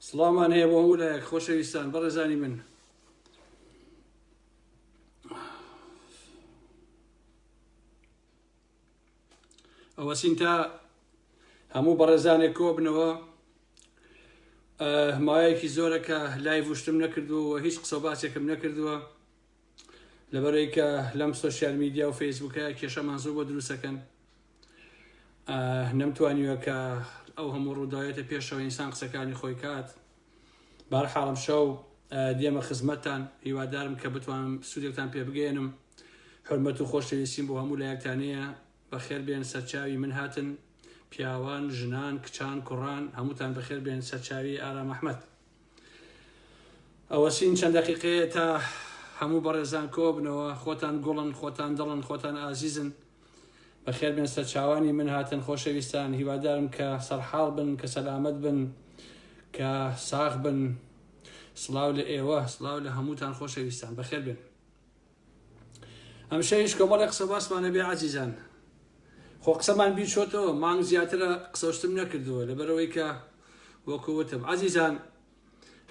سڵاومان هەیە بۆ هەموو لایەک خۆشەویستان بەڕێزانی من ئەوە سینتا هەموو بەڕێزانێک کۆبنەوە مایەکی زۆرە کە لای وشتم نەکردووە هیچ قسە باسێکم نەکردووە لەبەرەی کە لەم سوسیال میدیا و فەیسبوکە کێشەمان زۆر بۆ دروستەکەن نەمتوانیوە کە ئەو هەموو ڕووداوێتە پێشەوە ئینسان قسەکانی خۆی کات بار حاڵم شەو دێمە خزمەتتان هیوادارم کە بتوانم سوودێکتان پێ بگەێنم حرمەت و خۆشەویستیم بۆ هەموو لایەکتانەیە بەخێر بێن سەرچاوی من هاتن پیاوان ژنان کچان کوڕان هەمووتان بەخێر بێن سەرچاوی ئارام ئەحمد ئەوەچین چەند دەقیقەیە تا هەموو بەڕێزان کۆبنەوە خۆتان گوڵن خۆتان دڵن خۆتان ئازیزن بەخێر بێن سەرچاوانی من هاتن خۆشەویستان هیوادارم کە سەرحاڵ بن کە سەلامەت بن کە ساغ بن سڵاو لە ئێوە سڵاو لە هەمووتان خۆشەویستان بەخێر بێن هەمیشە هیچ کۆمەڵێ قسە باسمان نەبێ عزیزان خۆ قسەمان بیچۆتەوە مانگ زیاترە قسەشتم نەکردووە لەبەرەوەی کە وەکووتم عزیزان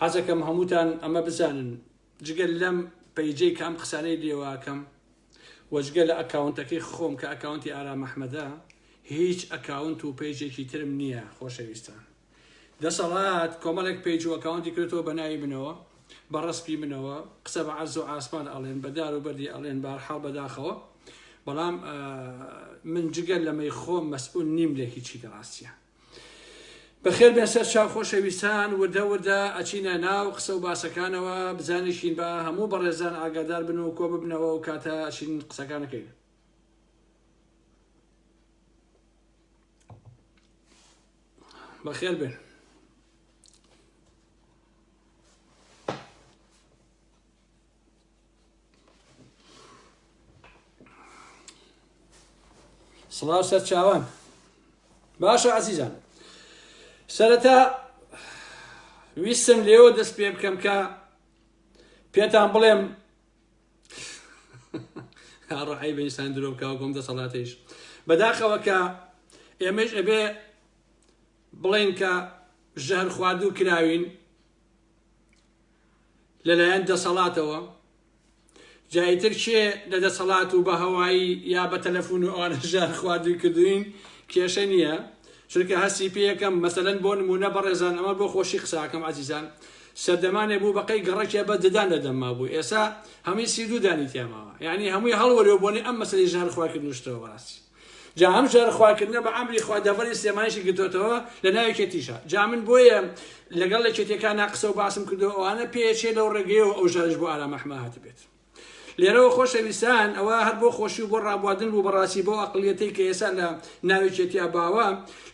حەزەکەم هەمووتان ئەمە بزانن جگەل لەم پەیجەی کە ئەم قسانەی لێواکەم وەجگە لە ئەکاونتەکەی خۆم کە ئەکاونتی ئارام ئەحمەدە هیچ ئەکاونت و پەیجێکی ترم نییە خۆشەویستان دەسەڵات کۆمەڵێک پەیج و ئەکاونتی کردەوە بە ناوی منەوە بە ڕسپی منەوە قسە بە عەرز و ئاسمان ئەڵێن بە دار و بەردی ئەڵێن بارحاڵ بەداخەوە بەڵام من جگە لەمەی خۆم مەسئول نیم لە هیچی لە ڕاستە بەخێر بێ سەر چاو خۆشەویستان وردە وردە ئەچینە ناو قسە و باسەکانەوە بزانیشین بە هەموو بەڕێزان ئاگادار بن و کۆ ببنەوە و کاتە ئەچین قسەکانەکەین بەخێر بێن سڵاو سەرچاوان باشە عزیزان سەرەتا ویستم لێوە دەست پێ بکەم کە پێتان بڵێم ڕعی بەئینسان درۆ بکەوە گۆم دەسەڵاتیش بەداخەوە کە ئێمەش ئەبێ بڵێن کە ژەهر خواردوو کراوین لەلایەن دەسەڵاتەوە جایتر کێ لە دەسەڵات و بە هەوایی یا بە تەلەفۆن و ئەوانە ژەهر خواردووی کردوین کێشە نییە چونکە هەستی پێەکەم مەسەن بۆ نمونە بەڕێزان ئەمە بۆ خۆشی قساکەم عزیزان سەردەمانێ بوو بەقەی گەڕەکێ بە ددان لە دەم مابوو ئێسا هەمووی سی دوو دانی تیا ماوە یانی هەمووی هەڵوەرێ و بۆنەی ئەم مەسەلەی ژەهر خوار کردنوشتەوە بەڕاستی جا ئەم ژەهر خوار کردنە بە ئەمری خوا دەڤەری سلێمانیشی گرتۆتەوە لە ناو یەکێتیشە جا من بۆیە لەگەڵ یەکێتیەکانا قسە و باسم کردووە ئەوانە پێیەچێ لەو ڕێگەیەوە ئەو ژەهرەش بۆ ئارام ئەحمە هاتبێت. لێرەوە خۆشەویستان ئەوە هەر بۆ خۆشی و بۆ ڕابواردن بوو بەڕاستی بۆ ئەقلیەتەی کە ئێسا لە ناوێکێتیا باوە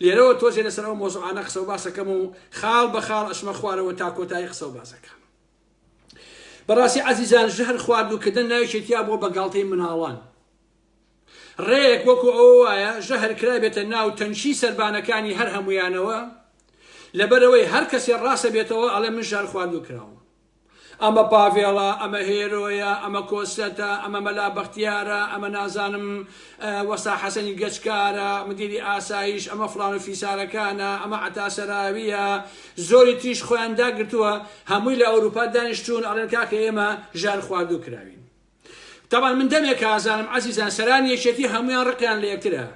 لێرەوە تۆزێ لەسەر ئەو مۆزوعانە قسە و باسەکەم و خاڵ بە خاڵ ئەشمە خوارەوە تا کۆتایی قسە و باسەکە بەڕاستی عزیزان ژهر خواردووکردن ناوێکێتیا بۆ بەگاڵتەی مناڵان ڕێک وەکو ئەوە وایە ژەهر کرابێتە ناو تەنشی سربانەکانی هەر هەمویانەوە لەبەرەوەی هەر کەسێ ڕاستە بێتەوە ئەڵێ من ژار خواردو کراوە ئەمە پاڤێڵە، ئەمە هێرۆیە، ئەمە کۆسرەتە، ئەمە مەلا بەختیارە، ئەمە نازانم وەستا حەسەنی گەچکارە، مدیری ئاسایش، ئەمە فڵان و فیسارەکانە، ئەمە عەتا سەراوییە، زۆری تریش خۆیان داگرتووە، هەمووی لە ئەوروپا دانیشتوون، ئەڵێن کاکە ئێمە ژەهرخواردوو کراوین. تەبعەن من دەمێکە ئازانم ئەزیزان سەرانی یەکێتی هەمویان ڕقیان لە یەکترە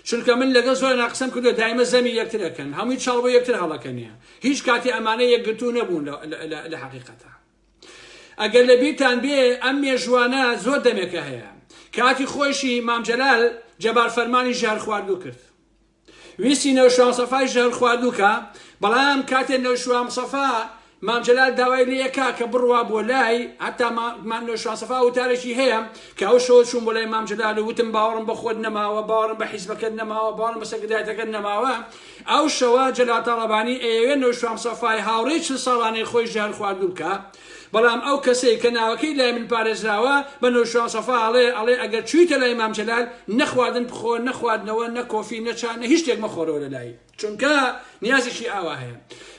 چونکە من لەگەڵ زۆرنا قسەم کردوە دایمە زەمی یەکتر ئەکەن هەموی چاڵ بۆ یەکتر هەڵەکەنێ هیچ کاتی ئەمانە یەکگرتوو نەبوون لە حقیقەتە ئەگەر لە بیرتان بێ ئەم مێژوانە زۆر دەمێکە هەیە کاتی خۆشی مامجلال جەبار فەرمانی ژهر خواردو کرد ویستی نەوشوان سەفای ژەهر خواردوو کا بەڵام کاتێ نەوشوام سەفا مام جەلال داوای لێ کا کە بڕوا بۆ لای هەتا مان نەوشوان سەفا وتارێکی هەیە کە ئەو شەوە چوون بۆ لای مام جەلال و وتم باوەڕم بە خۆت نەماوە باوەڕم بە حیزبەکەت نەماوە باوەڕم بە سەکردایەتەکەت نەماوە ئەو شەوە جەلال تاڵەبانی ئەیەوێ نەوشوام سەفای هاوڕێی چل ساڵانەی خۆی ژەهر خواردوو بکا بەڵام ئەو کەسەی کە ناوەکەی لای من پارێزراوە بە نۆشیروان سەفا ئەڵێ ئەڵێ ئەگەر چویتە لای مام جەلال نە خواردن بخۆ نە خواردنەوە نە کۆفی نە چا نە هیچ شتێک مەخۆرەوە لە لای چونکە نیازێکی ئاوا هەیە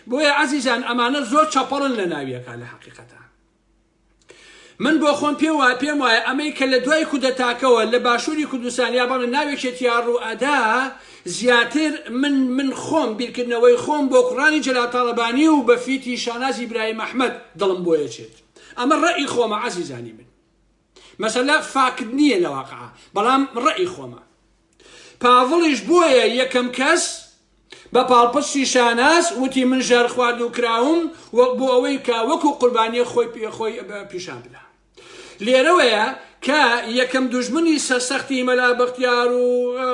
بۆیە عەزیزان ئەمانە زۆر چەپەڵن لە ناویەکە لە حەقیقەتە من بۆ خۆم پێم وایە پێم وایە ئەمەی کە لە دوای کودەتاکەوە لە باشووری کوردستان یا بەڵێ ناوێکێتیا ڕوو ئەدا زیاتر من من خۆم بیرکردنەوەی خۆم بۆ کوڕانی جەلال تاڵەبانی و بە فیتی شاناز ئیبراهیم ئەحمەد دڵم بۆ ئەچێت ئەمە ڕەئی خۆمە عەزیزانی من مەسەلە فاکت نییە لە واقع بەڵام ڕەئی خۆمە پاڤڵیش بۆیە یەکەم کەس بە پاڵپستی شاناز وتی من ژەر خواردو کراوم وەک بۆ ئەوەی کا وەکو قوربانیە خۆی پێ خۆی پیشان بدا لێرەوەیە کە یەکەم دوژمنی سەرسەختی مەلا بەختیار و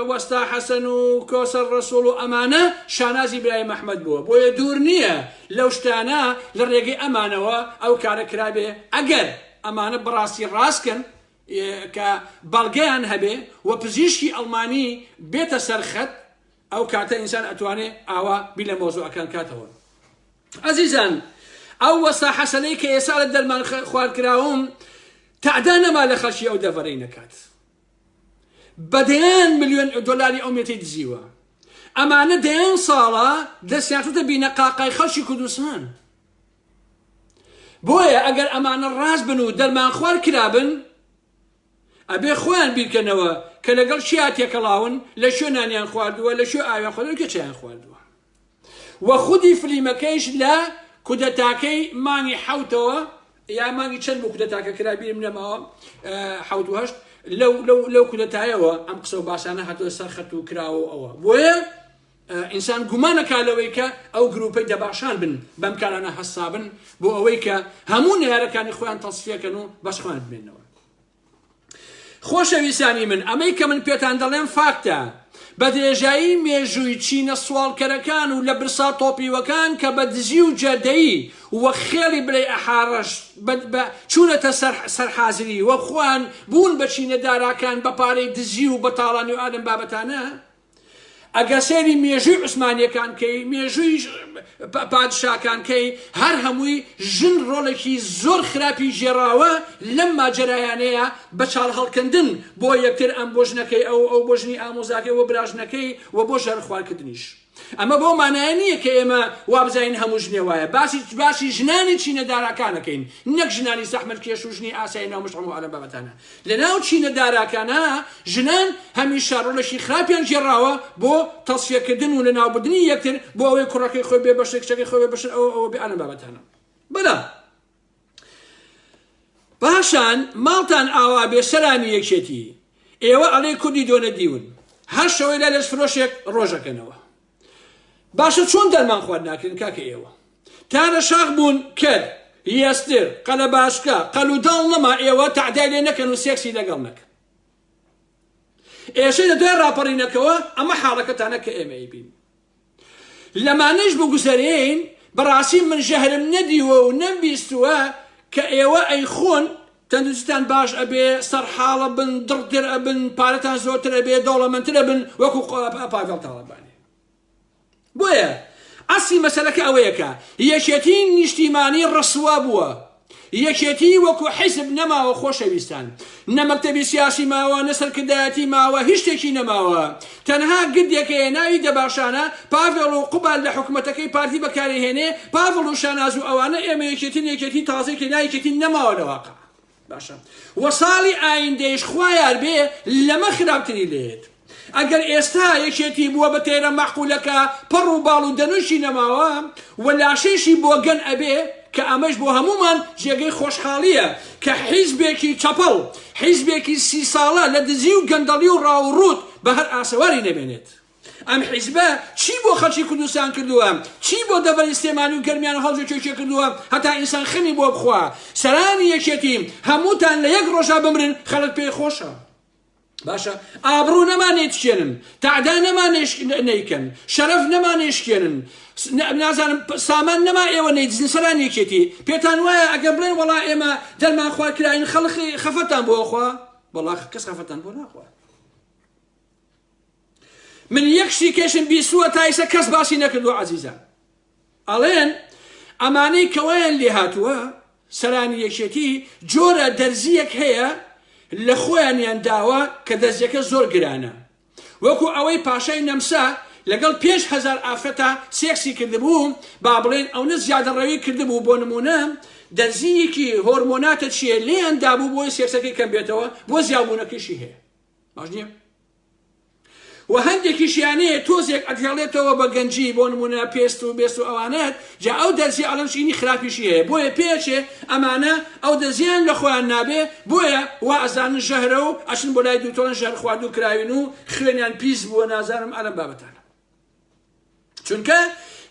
وەستا حەسەن و کۆسەر ڕەسوڵ و ئەمانە شانازی برایم ئەحمەد بووە بۆیە دوور نییە لەو شتانە لە ڕێگەی ئەمانەوە ئەو کارە کرابێ ئەگەر ئەمانە بەڕاستی ڕاستکەن کە بەڵگەیان هەبێ و پزیشکی ئەڵمانی بێتە سەرخەت ئەو کاتە ئینسان ئەتوانێ ئاوا بی لە مۆزوعەکان کاتەوە ئەزیزان ئەو وەستا حەسەنەی کە ئێسا لە دەرمان خوارد کراوم تەعدا نەما لە خەڵکی ئەو دەڤەرەی نەکات بەدەیان ملیۆن دلاری ئەو مێتی دزیوە ئەمانە دەیان ساڵە دەستیانتە بینە قاقای خەڵکی کوردستان بۆیە ئەگەر ئەمانە ڕاست بن و دەرمان خوارد کرابن ئەبێ خۆیان بیرکەنەوە کە لەگەڵ کێا تێکەڵاون لە کوێ نانیان خواردووە لە کوێ ئاویان خواردووە کێ چایان خواردووە و خودی فلیمەکەیش لە کودەتاکەی مانگی حەوتەوە یا مانگی چەند بۆ کودەتاکە کرا بیرم نەماوە حەوت و هەشت لەو لەو لەو کودەتایەوە ئەم قسە و باسانە هاتووە سەر خەت و کراوە ئەوە بۆیە ئینسان گومان ئەکا لەوەی کە ئەو گرووپەی دەباشان بن بەم کارانە هەستابن بۆ ئەوەی کە هەموو نەیارەکانی خۆیان تەسفیەکەن و بەس خۆیان بمێنەوە خۆشەویستانی من ئەمەی کە من پێتان دەڵێم فاکتە بە درێژایی مێژووی چینە سوالکەرەکان و لە برسا تۆپیوەکان کە بە دزی و جەدەی وە خێڵی بلەی ئەحاڕەش چوونەتە سەرحازری وە خوان بوون بە چینە داراکان بە پارەی دزی و بەتاڵانی و ئادەم بابەتانە ئەگەر سەیری مێژووی عوسمانیەکان کەی مێژووی پادشاکان کەی هەر هەمووی ژن ڕۆڵێکی زۆر خراپی ژێراوە لەم ماجەرایانەیە بە چاڵ هەڵکەندن بۆ یەکتر ئەم بۆ ژنەکەی ئەو ئەو بۆ ژنی ئامۆزاکەی وە براژنەکەی و بۆ ژەر خوارکردنیش ئەمە بۆ مانایە نییە کە ئێمە وابزین هەموو ژنێ وایە باسی باسی ژنانی چینە داراکانەکەین نەک ژنانی سەحمل کێش و ژنی ئاسای ناومشتم و ئەلم بابەتانە لەناو چینە داراکانە ژنان هەمیشە ڕۆلێکی خراپیان گێڕاوە بۆ تەسفیەکردن و لەناوبردنی یەکتر بۆ ئەوەی کوڕەکەی خۆی بێ بەشە کچەکەی خۆی بێ بەشن ئەوە ئەوە بێ ئەنە بابەتانە بەڵام پاشان ماڵتان ئاوا بێ سەلامی یەکێتی ئێوە ئەڵێ کوردی دۆنە دیون هەر شەوەی لە لەش فرۆشێک ڕۆژەکەنەوە باشە چۆن دەرمان خوارد ناکرێن کاکە ئێوە تارە شاخ بوون کەر یەستر قەلە باشکە قەل و داڵ نەما ئێوە تعدای لێ نەکەن و سێکسی لەگەڵ نەکەن ئێشەی لە دوای ڕاپەڕینەکەەوە ئەمە حاڵەکەتانە کە ئێمەی بین لەمانەش بگوزەرێین بەڕاستی من ژەهرم نەدیوە و نەمبیستووە کە ئێوە ئەی خۆن تەندروستیتان باش ئەبێ سەرحاڵ ئەبن دڵتر ئەبن پارەتان زۆرتر ئەبێ دەوڵەمەندتر ئەبن وەکو پاڤێڵ تاڵەبانی بۆیە ئەسی مەسەلەکە ئەوەیە کە یەکێتی نیشتیمانی ڕسوا بووە یەکێتی وەکو حیزب نەماوە خۆشەویستان نە مەکتەبی سیاسی ماوە نە سەرکردایەتی ماوە هیچ شتێکی نەماوە تەنها گردێک هەیە ناوی دەباشانە، پاڤێڵ و قوباد لە حکومەتەکەی پارتی بەکارئەهێنێ، پاڤڵ و شاناز و ئەوانە ئێمە یەکێتین یەکێتی تازەی کە نایەکێتی نەماوە لە واقع باشە وە ساڵی ئایندەیش خوایاربێ لەمە خراپتری لێت ئەگەر ئێستا یەکێتی بووە بە تەیرە مەعقولەکە پەڕ و باڵ و دەنووشی نەماوە و لاشەیشی بۆگەن ئەبێ کە ئەمەش بۆ هەموومان جێگەی خۆشحاڵییە کە حیزبێکی چەپەڵ، حیزبێکی سی ساڵە لە دزی و گەندەڵی و ڕاو و ڕووت بە هەر ئاسەواری نەمێنێت. ئەم حیزبە چی بۆ خەڵکی کوردستان کردووە، چی بۆ دەڤەری سلێمانی و گەرمیان و هەڵجە کێکێ کردووە هەتا ئینسان خەمی بۆ بخوا؟ سەرانی یەکێتی هەمووتان لە یەک ڕۆژا بمرن خەڵک پێی خۆشە. باشە ئابڕوو نەما نێتشێنن تادا نەما نیکەن شەرەف نەما نێشکێنن نازانم سامان نەما ئێوە نەیدزن سەران یەکێتی پێتان وایە ئەگەر بڵێن وڵا ئێمە دەرمان خوا کراین خەڵخی خەفەتان بۆخوا بەڵا کەس خەفەتان بۆ ناخوا من یەکشتی کەشم بیسووە تایسە کەس باسی نەکردو عزیزان ئەڵێن ئەمانەی کە وایان لێهاتووە سەرانی یەکێتی جۆرە دەرزییەک هەیە لە خۆیانیان داوە کە دەرزیەکە زۆر گرانە وەکو ئەوەی پاشای نەمسا لەگەڵ پێنج هەزار ئافرەتا سێکسی کردبوو با بڵێن ئەونە زیادە ڕەوی کردبوو بۆ نمونە دەرزییەکی هۆرمۆناتە چیە لێیان دابوو بۆی سێکسەکەی کەم بێتەوە بۆ زیابوونەکەشی هەیە باش نییە؟ و هەندێکیشیان هەیە تۆزێک ئەتهێڵێتەوە بە گەنجی بۆ نمونە پێست و بێست و ئەوانەت جا ئەو دەرزی ئەڵەن شینی خراپیشی هەیە بۆیە پێچێ ئەمانە ئەو دەزیان لە خۆیان نابێ بۆیە وا ئەزانن ژەهرە و ئەچن بۆ لای دوکتۆرن ژەهر خواردو کراوین و خوێنیان پیس بووە نازانم ئەلەم بابەتانە چونکە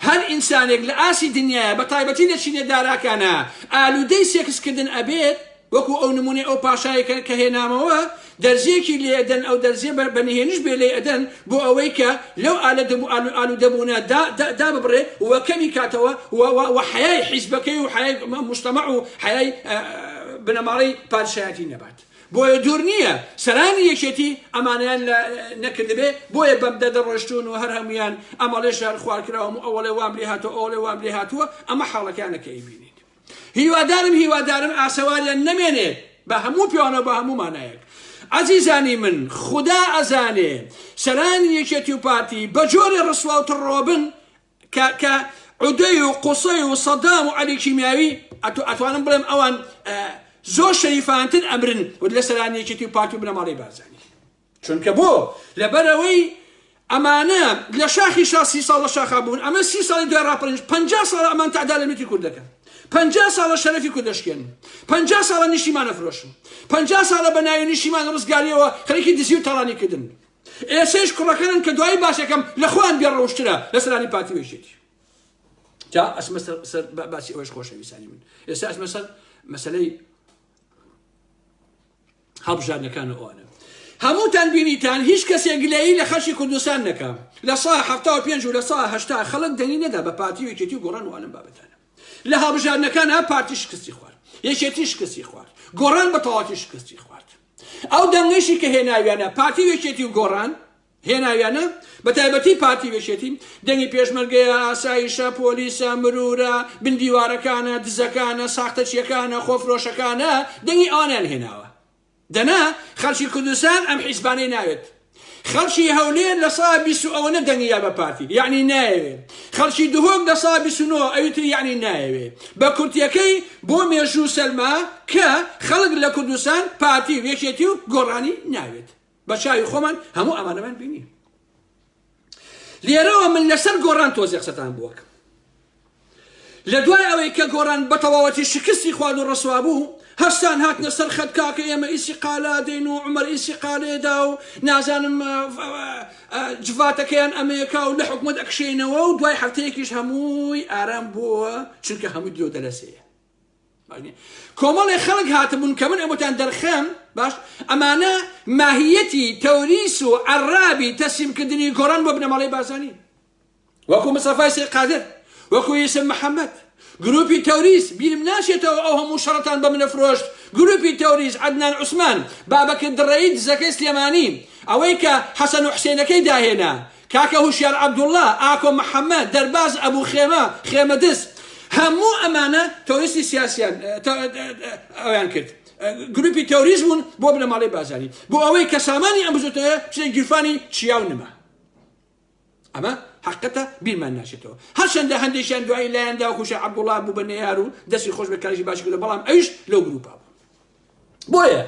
هەر ئینسانێک لە ئاستی دنیایە بە تایبەتی لە چینە داراکانە ئالودەی سێکس کردن ئەبێت وەکو ئەو نمونەی ئەو پاشایەکە کە هێنامەوە دەرزیەکی لێ ئەدەن ئەو دەرزیە بە نهێنیش بێ لێ ئەدەن بۆ ئەوەی کە لەو ئالە دەبوو ئالو ئالو دەبوونە دا دا دا ببڕێ و کەمی کاتەوە و و و حەیای حیزبەکەی و حەیای مشتەمەع و حەیای بنەماڵەی پادشایەتی نەبات بۆیە دوور نییە سەرانی یەکێتی ئەمانەیان لە نەکردبێ، بۆیە بەم دەردە ڕۆیشتوون و هەر هەموویان ئەمەڵێ شەهرخوارکراوم و ئەوەڵێ وام لێ هاتووە، ئەوەڵێ وام لێ هاتووە، ئەمە حاڵەکانە کە ئەیبینیت. هیوادارم هیوادارم ئاسەواریان نەمێنێ بە هەموو پێوانەوە بە هەموو مانایەک. ئەزیزانی من خودا ئەزانێ سەرانی یەکێتی و پارتی بە جۆرێ ڕسوا و تڕڕۆبن کە کە عودەی و قوسەی و سەدام و عەلی کیمیاوی ئەتو ئەتوانم بڵێم ئەوان زۆر شەریفانتر ئەمرن و لە سەرانیەکێتی و پارتی و بنەماڵی بارزانی چونکە بۆ لەبەرەوەی ئەمانە لە شاخی شا سی ساڵ لە شاخا بوون ئەمە سی ساڵی دوای ڕاپەرنج پ ساڵ ئەمان تادا لە میتی کورد دەکەن پ ساڵە شەرەفی کورد دەشکێن پ ساڵە نیشتیمانە فرۆشن پ ساڵە بە ناوی نیشتیمان ڕزگاریەوە خەرکی دزی و تاڵانی کردن ئێسەیش کوڕەکەنن کە دوایی باسەکەم لە خۆیان بێ ڕەوشترە لە سەرانی پارتی و یەکێتی جا ئەسمە سەر باسی ئەوەش خۆشەویستانی من ئێستا ئەسمە سەر مەسلەی هەڵبژاردنەکان و ئەوانە هەمووتان بینیتان هیچ کەسێ گلەیی لە خەشی کوردستان نەکە لە سا ه پێنج و لە سا هشتا خەڵک دەنی نەدا بە پارتی وکێتی و گۆڕان وانم بابەتانە لە هەڵبژاردنەکان ئەم پارتی شکستی خوارد، یەکێتی شکستی خوارد، گۆڕان بە تەواوەتی شکستی خوارد. ئەو دەنگەیشی کە هێناویانە پارتی و یەکێتی و گۆڕان هێناویانە، بە تایبەتی پارتی و یەکێتی، دەنگی پێشمەرگەیە، ئاسایشە، پۆلیسە، مرورە، بن دیوارەکانە، دزەکانە، ساختەچییەکانە، خۆفرۆشەکانە، دەنگی ئەوانەیان هێناوە. دەنا خەڵکی کوردستان ئەم حیزبانەی ناوێت خەڵکی هەولێر لە سا بیست و ئەوەنە دەنگیا بە پارتی یعنی نایەوێ خەڵکی دهۆک لە سا بیست و نۆ ئەوی تر یعنی نایەوێ بە کورتیەکەی بۆ مێژوو سەلما کە خەڵک لە کوردستان پارتی و یەکێتی و گۆڕانی ناوێت بە چاوی خۆمان هەموو ئەمانەمان بینی لێرەوە من لەسەر گۆڕان تۆزێ قسەتان بووەکەم لە دوای ئەوەی کە گۆڕان بەتەواوەتی شکستی خوارد و ڕسوا بوو هەستان هاتنە سەر خەت کاکە ئێمە ئیسی قالا دێن و عمر ئیسی قالێدا و نازانم جڤاتەکەیان ئەمەیەکا و لە حکومت ئەکشێنەوە و دوای هەفتەیەکیش هەمووی ئارام بووە چونکە هەموو دیۆ دەلەسەیە کۆمەڵێ خەڵک هاتبوون کە من ئەمەتان دەرخەم باش ئەمانە ماهیەتی تەوریس و عرابی تەسیمکردنی گۆڕان بۆ بنەماڵی بازانی وەکو مسەفای سێ قادر وەکو یسم محەممەد گروپی تەوریس بیرم ناشێتەوە ئەو هەموو شەڕتان بە منە فرۆشت گروپی تەوریس عدنان عوسمان بابەکە دڕێی دزەکەی سلێمانی ئەوەی کە حەسەن و حسێنەکەی داهێنا کاکە هوشیار عەبدوڵا، ئاکۆ محەمەد، دەرباز ئەبو خێمە، خێمە دز، هەموو ئەمانە تۆریستی سیاسیان ئەویان کرد، گروپی تۆریست بوون بۆ بنەماڵەی بازانی، بۆ ئەوەی کە سامانی ئەم بزوتنەوەیە بچێتە گیرفانی چیا و نما. ئەمە حەقەتە بیرمان ناچێتەوە. هەرچەندە هەندێکیان دوایی لایاندا وەکو شێخ عەبدوڵا بوو بە نەیار و دەستی خۆش بێت کارێکی باشی کردوە بەڵام ئەویش لەو گروپە بوو. بۆیە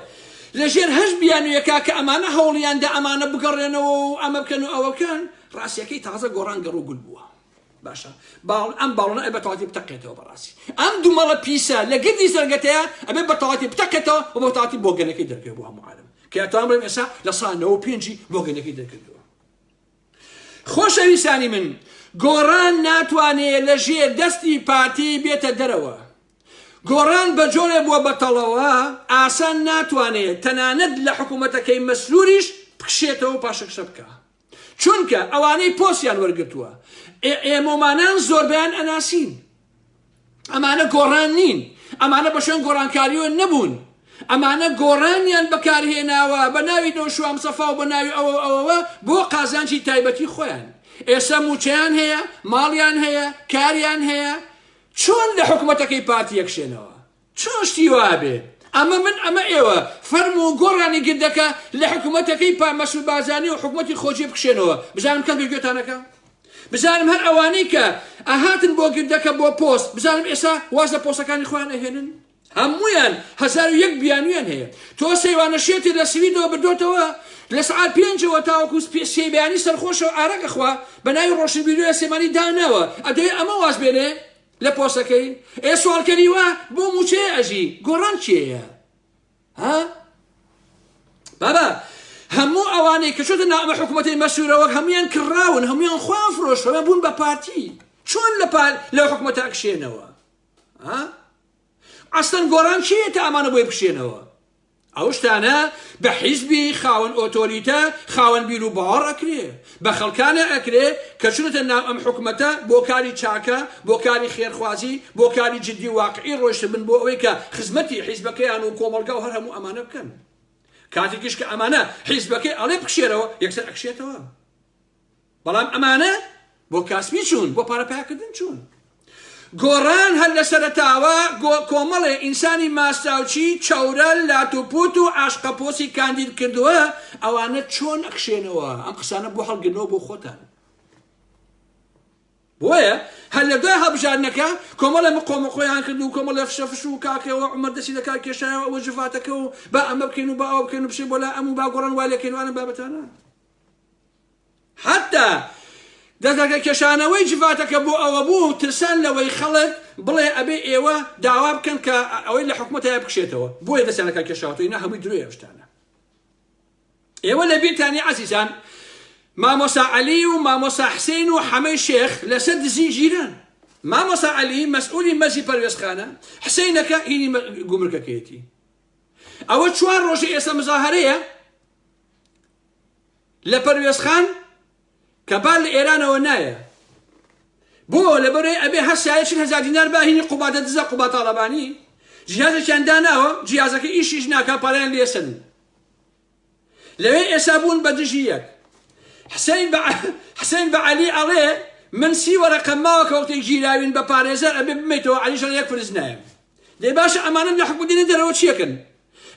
لە ژێر هەشت بیانویەکا کە ئەمانە هەوڵیان دا ئەمانە بگەڕێنەوە و ئەمە بکەن و ئەوە بکەن، ڕاستیەکەی تازە گۆڕان گەڕ و گول بووە. باشە باڵ ئەم باڵۆنە ئەبێ بەتەواتی بتەقێتەوە بەڕاستی ئەم دومەڵە پیسە لە گردی سەرگەتەیە ئەبێ بەتەواتی بتەقێتەوە و بەتەواتی بۆگەنەکەی دەرکەوێ بۆ هەموو عالم کە ئەتوان بڵێم ئێستا لە سا 95 بۆگەنەکەی دەرکردو خۆشەویستانی من گۆڕان ناتوانێت لە ژێر دەستی پارتی بێتە دەرەوە گۆڕان بە جۆرێ بووە بەتەڵەوە ئاسان ناتوانێ تەنانەت لە حکوومەتەکەی مەسرووریش بکشێتەوە و پاشەکشە بکا. چونکە ئەوانەی پۆستیان وەرگرتووە ئێمۆمانان زۆربیان ئەناسین. ئەمانە گۆڕان نین، ئەمانە بە شوێن گۆڕانکاریۆ نەبوون. ئەمانە گۆڕانیان بەکارهێناوە بە ناوی نەوشوام سەفا و بە ناوی ئەوە ئەوەوە بۆ قازانجی تایبەتی خۆیان. ئێستا موچەیان هەیە، ماڵیان هەیە، کاریان هەیە، چۆن لە حکومەتەکەی پارتی یەکشێنەوە چۆن شتی وابێ ئەمە من ئەمە ئێوە فەرم و گۆڕانی گردەکە لە حکومەتەکەی پا مەسول بازانی و حکومەتی خۆجێ بکشێنەوە بزانم کەس بە گوێتانەکە بزانم هەر ئەوانەی کە ئەهاتن بۆ گردەکە بۆ پۆست بزانم ئێسا واز لە پۆستەکانی خۆیان ئەهێنن هەموویان هەزار و یەک بیانویان هەیە تۆ سەیوانە شێتێ لە سویدەوە بردۆتەوە لە سعات پێنجەوە تاوەکو سێ بیانی سەرخۆشەوە ئارەگە خوا بە ناوی ڕۆشنبیری لە سێمانی داناوە ئەدەێ ئەمە واز بێنێ لە پۆسەکەی ئێ سوالکەریوە بۆ موچەیە ئەژی گۆڕان چێە ها بابا هەموو ئەوانەی کە چۆتە نامە حکوومەتی مەسوورەوە هەمویان کراون هەمویان خۆیان فرۆشەوە بوون بە پارتی چۆن لە پار لە حکوومەتە ئەکشێنەوە ها ئەسلەن گۆران کێیە کە ئەمانە بۆی بکشێنەوە ئەو شتانە بە حیزبی خاوەن ئۆتۆریتە خاوەن بیر و باوەڕ ئەکرێ بە خەڵکانە ئەکرێ کە چونەتە ناو ئەم حکومەتە بۆ کاری چاکە بۆ کاری خێرخوازی بۆ کاری جددی واقعی ڕۆشت بن بۆ ئەوەی کە خزمەتی حیزبەکەیان و کۆمەلگا و هەر هەموو ئەمانە بکەن کاتێکیش کە ئەمانە حیزبەکەی ئەڵێ بکشێرەوە یەکسەر ئەکشێتەوە بەڵام ئەمانە بۆ کاسپی چوون بۆ پارە پەیاکردن چوون گۆڕان هەر لە سەرەتاوە گۆ کۆمەڵێ ئینسانی ماستاوچی چەورە لات و پوت و عاشقە پۆسی کاندید کردووە ئەوانە چۆن ئەخشێنەوە ئەم قسانە بۆ هەڵگرنەوە بۆ خۆتان بۆیە هەر لە دوای هەبژارنەکە کۆمەڵە مقۆمە خۆیان کرد و کۆمەڵە فشەفش و کاکەوە عمر دەسی لە کار کێشایەوە ئەوە جڤاتەکە و با ئەمە بکەین و با ئەو بکەن و بشێ بۆ لا ئەم و با گۆڕان وای لەکەنوانە بابەتانە حەتتا دەستەکە کێشانەوەی جڤاتەکە بۆ ئەوە بوو ترسان لەوەی خەڵک بڵێ ئەبێ ئێوە داوا بکەن کە ئەوەی لە حکومەتەیە بکشێتەوە بۆیە دەستیانەکە کێشاوەتەوە ئینا هەمووی درۆیە ئەو شتانە ئێوە لە بیرتانی عەزیزان مامۆسا عەلی و مامۆسا حسین و حەمەی شێخ لەسەر دزی ژیران مامۆسا عەلی مەسئولی مەزی پەروێزخانە حسینەکە هینی گومرکەکەیەتی ئەوە چوار ڕۆژە ئێستا مزاهرەیە لە پەروێز خان کە بار لە ئێرانەوە نایە بۆ لەبەرەی ئەبێ هەر سایە چل هەزار دینار باهینی قوبادە دزە قوبا تاڵەبانی جیازێکیان داناوە جیازەکە ئیشیش ناکا پاریان لێسن لەوێ ئێسا بوون بە دژی یەک حسین بە حسین بە علی ئەڵێ من سی وەرەقە ماوە کەوتێک گیراوین بە پارێزەر ئەبێ بمێتەوە علیشان یەک فرز نایم دەی باشە ئەمانەم لە حکومەت دێنە دەرەوە چیەکەن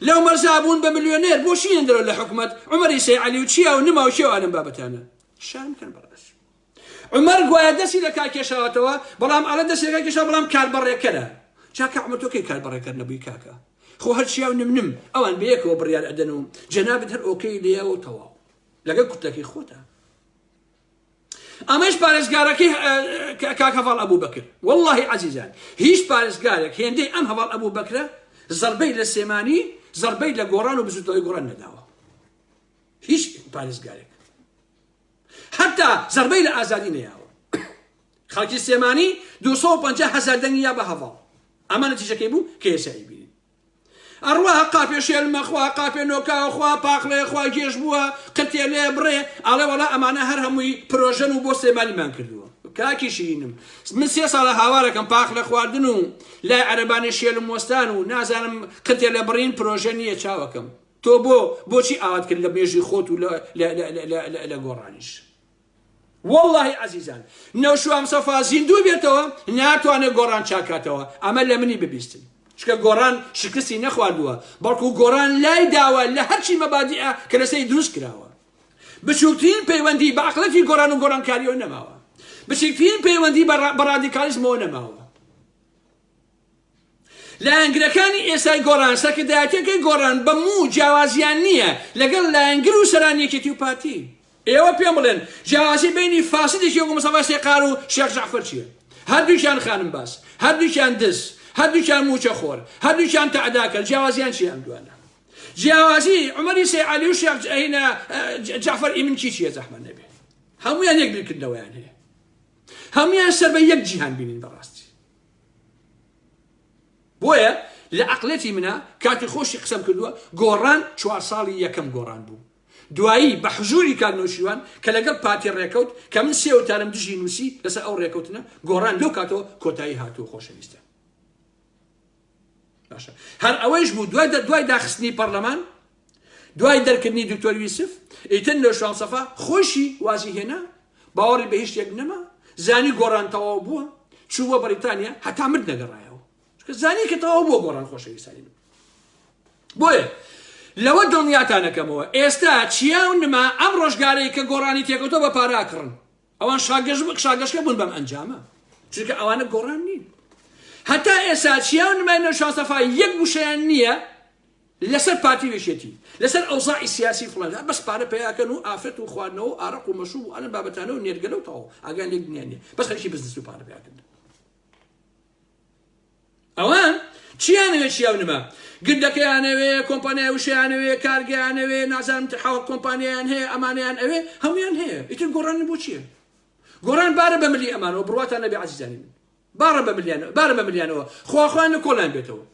لەو مەرزا بوون بە ملیۆنێر بۆ چیەن دەرەوە لە حکومەت عمەری سەی علی و چیا و نما و کێ و ئەلم بابەتانە شان کەن بەڕێز عمر گوایە دەستی لە کار کێشاوەتەوە بەڵام ئەڵە دەستی لە کار کێشا بەڵام کاربەڕێکەرە چاکە عمر تۆ کەی کاربەڕێکەر نەبووی کاکە خۆ هەر چیا و نمنم ئەوان بەیەکەوە بڕیار ئەدەن و جەنابت هەر ئۆکەی لێەوە تەواو لەگەڵ کوتەکەی خۆتە ئەمەش پارێزگارەکەی کاک هەڤاڵ ئەبوو بەکر واللهی عزیزان هیچ پارێزگارێک هێندەی ئەم هەواڵ ئەبوو بەکرە زربەی لە سێمانی زربەی لە گۆڕان و بزوتەوەی گۆڕان نەداوە هیچ پارێزگارێک حتا زربەی لە ئازادی نەیاوە خەڵکی سێمانی 250 هزار دەنگی یا بە هەواڵ ئەمانە تیژەکەی بوو کێسایی بینی ئەڕوا قاپێ شێلمە خوا قاپێ نۆکاو خوا پاقلێ خوا گێژ بووە قرتێ لێ بڕێ ئاڵێ وەڵا ئەمانە هەر هەمووی پرۆژەن و بۆ سلێمانیمان کردووە کاکی شیرینم من سێ ساڵە هاوارەکەم پاخ لە خواردن و لای عەربانی شێلم وەستان و نازانم قتێ لە بڕین پرۆژە نییە چاوەکەم تۆ بۆ بۆچی ئاوات کرد لە مێژی خۆت و لە گۆڕانیش وەڵاهی ئازیزان نەوشوام سەفا زیندوو بێتەوە ناتوانێت گۆڕان چاکاتەوە ئەمە لە منی ببیستن چکە گۆڕان شکستی نەخواردووە بەڵکو گۆڕان لای داوە لە هەرچی مەبادیە کە لەسەی دروست کراوە بچووکترین پەیوەندی بە عقلەتی گۆران و گۆرانکاریەوە نەماوە بچکترین پەیوەندی بە ڕادیکالیزمەوە نەماوە لایەنگرەکانی ئێستای گۆڕان سەرکردایەتیەکەی گۆڕان بە موو جیاوازیان نییە لەگەڵ لایەنگر و سەرانی یەکێتی و پارتی ئێوە پێم بڵێن جیاوازی بینی فاسدێکی وەکو مستەفا سێقار و شێخ جەعفەر چییە هەردووکیان خانم باس هەردووکیان دز هەردووکیان موچە خۆر هەردووکیان تەعداکەر جیاوازیان چییە ئەم دوانە جیاوازی عمری سی علی و شیخ جعینا جعفر ئیمن کی چیە زەحمە نەبێ هەمویان یەک بیرکردنەوەیان هەیە هەمویان سەر بە یەک جیهان بینین بەڕاستی بۆیە لە عەقلەتی منا کاتی خۆشی قسەم کردووە گۆڕان چوار ساڵی یەکەم گۆڕان بوو دوایی بە حزوری کاک نوشیوان کە لەگەڵ پارتی ڕێکەوت کە من سێ وتارم دژی نووسی لەسەر ئەو ڕێکەوتنە گۆڕان لەو کاتەوە کۆتایی هاتوو خۆشەویستە باشە هەر ئەوەیش بوو دوای دوای داخستنی پەرلەمان دوای دەرکردنی دکتۆر یوسف ئیتر نۆشان سەفا خۆشی وازی هێنا باوەڕی بە هیچ شتێک نەما زانی گۆڕان تەواو بووە چوو بۆ بەریتانیا هەتا مرد نەگەڕایەوە چونکە زانی کە تەواو بۆ گۆڕان خۆشەویستانی من بۆیە لەوە دڵنیاتانەکەمەوە ئێستا چیا و نما ئەم ڕۆژگارەی کە گۆڕانی تێکەوتۆ بە پاراکڕن ئەوان شاگەش بوون شاگەشکە بوون بەم ئەنجامە چونکە ئەوانە گۆڕان نین هەتا ئێسا چیاو نمای نەوشا سەفا یەک وشەیان نییە لەسەر پارتی وێشێتی لەسەر ئەوزاعی سیاسی فڵەندا بەس پارە پیاکەن و ئافرەت و خواردنەوە و ئارەق و مەشوب و ئەلم بابەتانە و نێرگەلە و تەواو ئاگان لێک دنیان نیە بەس خەریکی بزنس و پارە پیاکردن ئەوان چیانەوێ چیاو نما گندەکەیانەوێ کۆمپانیای وشەیانەوێ کارگەیانەوێ نازان حاوە کۆمپانیایان هەیە ئەمانیان ئەوێ هەمویان هەیە ئیتر گۆڕان بۆ چییە گۆڕان بارە بە ملی ئەمانەوە بڕواتان نەبێ عزیزانی من بارە بە ملیانەوە بارە بە ملیانەوە خواخوان لە کۆڵیان بێتەوە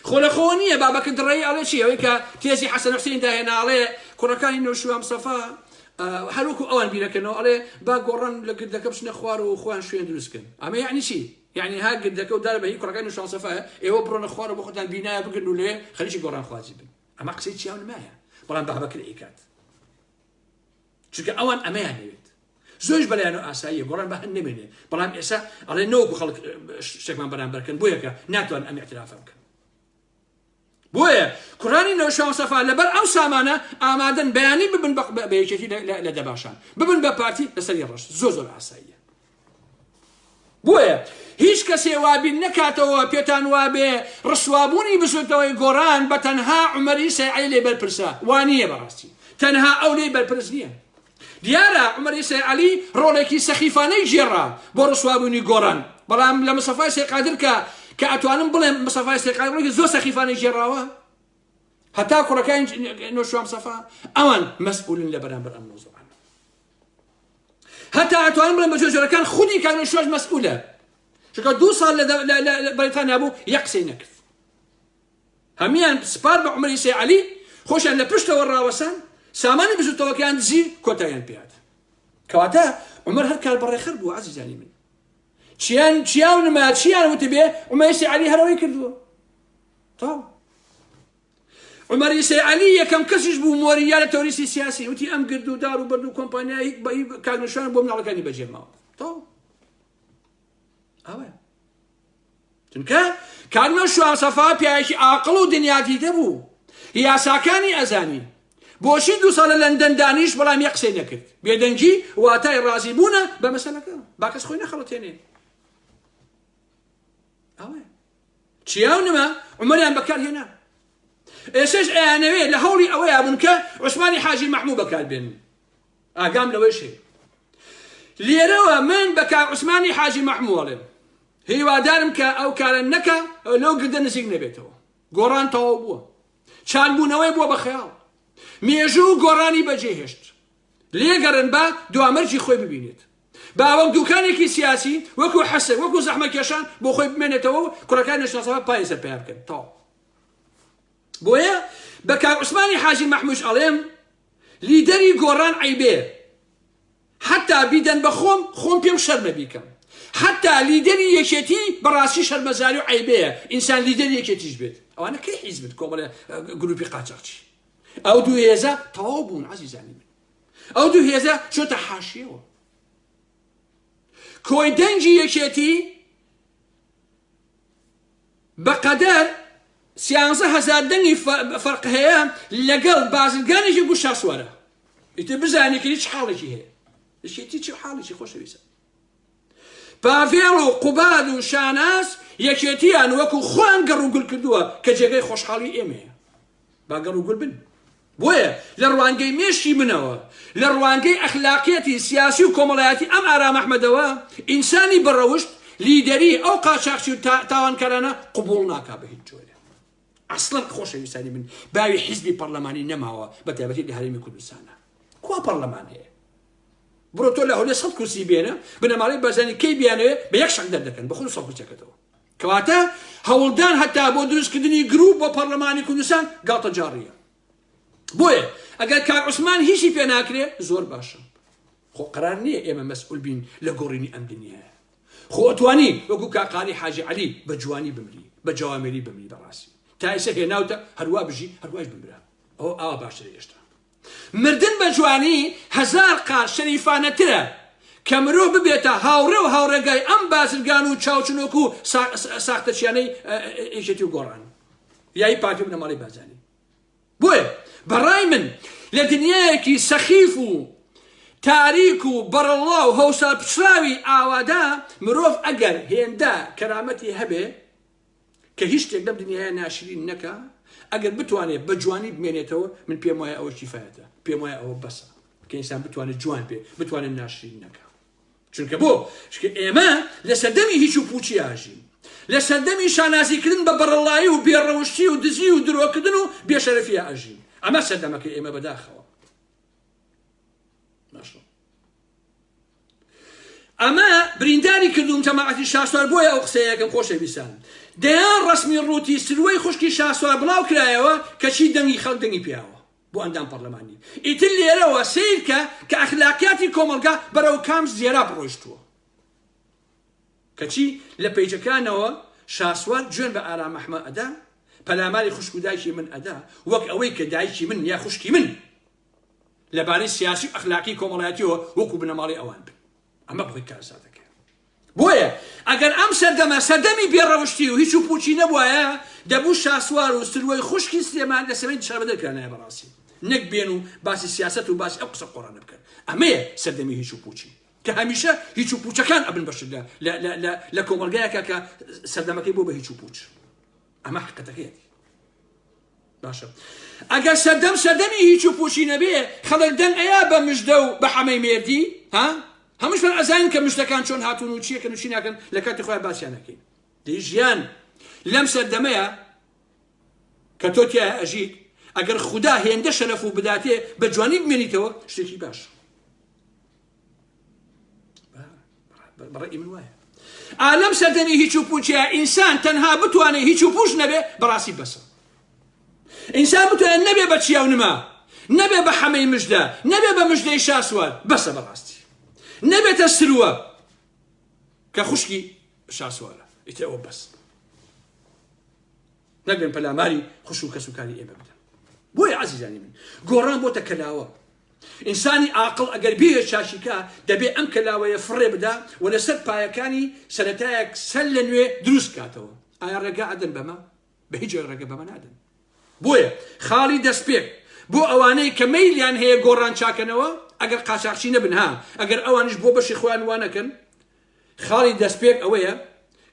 خۆ لە خۆوە نییە بابەکە دڕێی ئەڵێ چی ئەوەی کە تێزی حەسەن حسین داهێنا ئەڵێ کوڕەکانی نەوشیوان مستەفا هەروکو ئەوان بیرەکەنەوە ئەڵێ با گۆڕان لە گردەکە بچنە خوار و خۆیان شوێن دروستکن ئەمە یعنی چی یعنی ها گردەکە و دار بە هی کوڕەکانی نەوشیوان مستەفا ئێوە بڕۆنە خوار و بۆ خۆتان بینایە بگرن و لێ خەریکی گۆڕان خوازی بن ئەمە قسەی چیاو نمایە بەڵام بابەکر ئەیکات چونکە ئەوان ئەمەیان نەوێت زۆرش بەلایەن و ئاساییە گۆڕان بە هەن نمێنێ بەڵام ئێسا ئەڵێ نەوەکو خەڵک شتێکمان بەرامبەرکەن بۆیەکە ناتوان ئەم اعترافە بکەن بۆیە کوڕانی نەوشەوەسەفا لەبەر ئەو سامانە ئامادەن بەیانی ببن بەیەکێتی لە دەباشان ببن بە پارتی لەسەری ڕەش زۆ زۆر ئاساییە بۆیە هیچ کەسێ وابین نەکاتەوە پێتان وابێ ڕسوابوونی بزوتنەوەی گۆڕان بە تەنها عمەری سەعی لێ بەرپرسە وانیە بەڕاستی تەنها ئەو لێ بەرپرس نییە دیارە عمەری سەعلی ڕۆڵێکی سەخیفانەی گێڕا بۆ ڕسوابوونی گۆڕان بەڵام لە مسەفای سێقادر کە کە ئەتوانم بڵێم مسەفای سێقادڕێکی زۆر سەخیفانەی گێڕاوە هەتا کوڕەکان نۆشوام سەفا ئەوان مەسئولن لە بەرامبەر ئەم مۆزوعە هەتا ئەتوانم بڵێم بە جۆر جۆرەکان خودی کانون شۆش مەسئولە چونکە دوو ساڵ لە بەریتانیا بوو یەک قسەی نەکرد هەمیان سپار بە عمری سێ علی خۆشیان لە پشتەوە ڕاوەسان سامانی بزوتەوەکەیان دزی کۆتایان پێات کەواتە عمر هەر کار بەڕێخەر بوو عزیزانی من چیان چیاو نما چیان وتبێ عمەسی علی هەرەوەی کردووە تاو عومەر ئیسەی عەلی یەکەم کەسیش بوو مۆریا لە تەوریسی سیاسی وتی ئەم گرد و دار و بەرد و کۆمپانیایی بە کاک نوشان بۆ مناڵەکانی بەجێماوە تۆ ئەوە چونکە کاک نوشان سەفا پیاوێکی ئاقڵ و دنیا دیدە بوو یاساکانی ئەزانی بۆشی دو ساڵە لەندەن دانیش بەڵام یە قسەی نەکرد بێدەنگی واتای ڕازی بوونە بە مەسەلەکە باکەس خۆی نەخەڵەتێنێ ئەوە چیا و نما عومەریان بەکار هێنا. ئێسەش ئەیانەوێ لە هەوڵی ئەوەیا بوون کە عوسمانی حاجی مەحموو بەکار بێنن. ئاگام لەوەیش هەیە. لێرەوە من بە کاک عوسمانی حاجی مەحموو ئەڵێم. هیوادارم کە ئەو کارە نەکا لەو گردە نزیک نەبێتەوە. گۆڕان تەواو بووە. چالبوونەوەی بووە بە خەیاڵ. مێژوو گۆڕانی بەجێهێشت. لێگەڕێن با دوامەرجی خۆی ببینێت با وەک دوکانێکی سیاسی وەکو حەسە وەکو زەحمەکێشان بۆ خۆی بمێنێتەوە و کوڕەکان نشناسەوە پای سەر پیا بکەن تەواو بۆیە بە کاک عوسمانی حاجی مەحموش ئەڵێم لیدەری گۆڕان عیبێ حتا بیدەن بە خۆم خۆم پێم شەرمە بیکەم حتا لیدەری یەکێتی بەڕاستی شەرمەزاری و عیبەیە ئینسان لیدەر یەکێتیش بێت ئەوانە کەی حیزبت کۆمەڵە گروپی قاچاقچی ئەو دوو هێزە تەواو بوون عزیزانی من ئەو دوو هێزە چۆتە حاشیەوە کۆی دەنگی یەکێتی بەقەدەر سیانزە هەزار دەنگی فەرق هەیە لەگەڵ بازرگانێکی گوشاسوارە ئیتر بزانێکی هیچ حاڵێکی هەیە یەکێتی چ حاڵێکی خۆشەویستە پاڤێڵ و قوباد و شاناز یەکێتیان وەکو خۆیان گەڕ و گول کردووە کە جێگەی خۆشحاڵی ئێمەیە با گەڕ و گول بن بۆیە لە ڕوانگەی مێشکی منەوە لە ڕوانگەی ئەخلاقیەتی سیاسی و کۆمەڵایەتی ئەم ئارام ئەحمەدەوە ئینسانی بەڕەوشت لیدەری ئەو قاچاخچی و تاوانکارانە قبول ناکا بە هیچ جۆرە ئەسڵەن خۆشەویستانی من باوی حیزبی پەرلەمانی نەماوە بە تایبەتی لە هەرێمی کوردستانە کوا پەرلەمان هەیە بڕۆ تۆ لە هەولێ سەد کورسی بێنە بنەماڵەی بەرزانی کەی بیانەوێ بە یەک شەق دەردەکەن بە خۆ سەد کورسەکەتەوە کەواتە هەوڵدان هەتا بۆ دروستکردنی گروپ بۆ پەرلەمانی کوردستان گاڵتە جاڕیە بۆیە ئەگەر کار عوسمان هیچی پێ ناکرێ زۆر باشە خۆ قرار نییە ئێمە مەسئول بین لە گۆڕینی ئەم دنیاە خۆتوانی وەکو کاقاری حاجی علی بە جوانی بمری بە جوامێری بمری بەڕاستی تایسە هێناوتە هەروە بژی هەروەش بمرا ئەو ئاوا باشتر هێشتا مردن بە جوانی هەزار قات شەریفانەترە کە مرۆڤ ببێتە هاوڕێ و هاوڕێگای ئەم بازرگان و چاوچنۆک و ساختەچیانەی ئێژێتی و گۆڕان یای پارتی بنەماڵی بازانی بۆیە بەڕای من لە دنیایەکی سەخیف و تاریک و بەڕەڵا و هەوسا پچراوی ئاوادا مرۆڤ ئەگەر هێندە کەرامەتی هەبێ کە هیچ شتێک لەم دنیاە ناشرین نەکا ئەگەر بتوانێت بە جوانی بمێنێتەوە من پێم وایە ئەوە کیفاەتە پێم وایە ئەوە بەسە کە ئینسان بتوانێت جوان بێ بتوانێت ناشرین نەکە چونکە بۆ شکە ئێمە لە سەردەمی هیچ و پوچی ئاژین لە سەردەمی شانازیکردن بە بەڕەڵایی و بێڕەوشتی و دزی و درۆکردن و بێشەرفی ئاژین ئەمە سەردەمەکە ئێمە بەداخەوە ئەمە برینداری کردووم جەماعەتی شاسوار بۆیە ئەو قسەیەکەم خۆشەویستان دەیان ڕەسمی ڕووتی سروەی خوشکی شاسوار بڵاو کرایەوە کە چی دەنگی خەڵک دەنگی پیاوە بۆ ئەندام پەرلەمانی ئیتر لێرەوە سیرکە کە ئەخلاقیاتی کۆمەلگا بەرەو کام زێرا بڕۆشتووە کەچی لە پیجەکانەوە شاسوار جوێن بە ئارام ئەحمە ئەدا پەلاماری خوشک و دایکی من ئەدا وەک ئەوەی کە دایکی من یا خوشکی من لەبارەی سیاسی و ئەخلاقی کۆمەڵایەتیەوە وەکو بنەماڵی ئەوان بن ئەمە بخۆی کارساتەکە بۆیە ئەگەر ئەم سەردەمە سەردەمی بێڕەوشتی و هیچ و پوچی نەبواە دەبوو شاسوار و سروەی خوشکی سلێمان لە سەمەی شاربەدەرکرانایە بەڕاستی نەک بێن و باسی سیاست و باسی ئەو قسە قۆڕانە بکەن ئەمەیە سەردەمی هیچ و پوچی کە هەمیشە هیچ و پوچەکان ئەبن بەشدا لە کۆمەلگایەکە کە سەردەمەکەی بۆ بە هیچ و پوچ ئەمە حقەتەکەیەتی باشە ئەگەر سەردەم سەردەمی هیچ و پوچی نەبێ خەڵک دەنگ ئەیا بە مژدە و بە حەمەی مێردی ها هەمشمان ئەزانین کە مشتەکان چۆن هاتون و چیەکەن و چی ناکەن لە کاتی خۆیان باسییان نەکەین دی ژیان لەم سەردەمەیە کە تۆ تیا ئەژیت ئەگەر خوددا هێندە شەرەف و بداتێ بە جوانی بمێنیتەوە شتێکی باش بەڕێ من وایە ئالەم سەردەمی هیچ و پوچە ئینسان تەنها بتوانێت هیچ و پوش نەبێ بەڕاستی بەسە ئینسان بتوانێت نەبێ بە چیا و نما نەبێ بە حەمەی مژدە نەبێ بە مژدەی شاسوار بەسە بەڕاستی نەبێتە سروە کە خوشکی شاسوارە ئیتر ئەوە بەس نەگەن پەلاماری خوش و کەسوکاری ئێمە بدەن بۆیە عزیزانی من گۆڕان بۆتە کەلاوە ئینسانی ئاقڵ ئەگەر بێوێ چاشیکا، دەبێ ئەم کەلاوەیە فڕێ بدا و لەسەر پایەکانی سەرەتایەک سەر لە نوێ دروست بکاتەوە. ئایا ڕێگا ئەدەن بەمە؟ بە هیچ جۆرێک ڕێگە بەمە نادەن. بۆیە خاڵی دەستپێک بۆ ئەوانەی کە مەیلیان هەیە گۆڕان چاکەنەوە، ئەگەر قاچاخچی نەبن ها، ئەگەر ئەوانیش بۆ بەشی خۆیان وا نەکەن، خاڵی دەستپێک ئەوەیە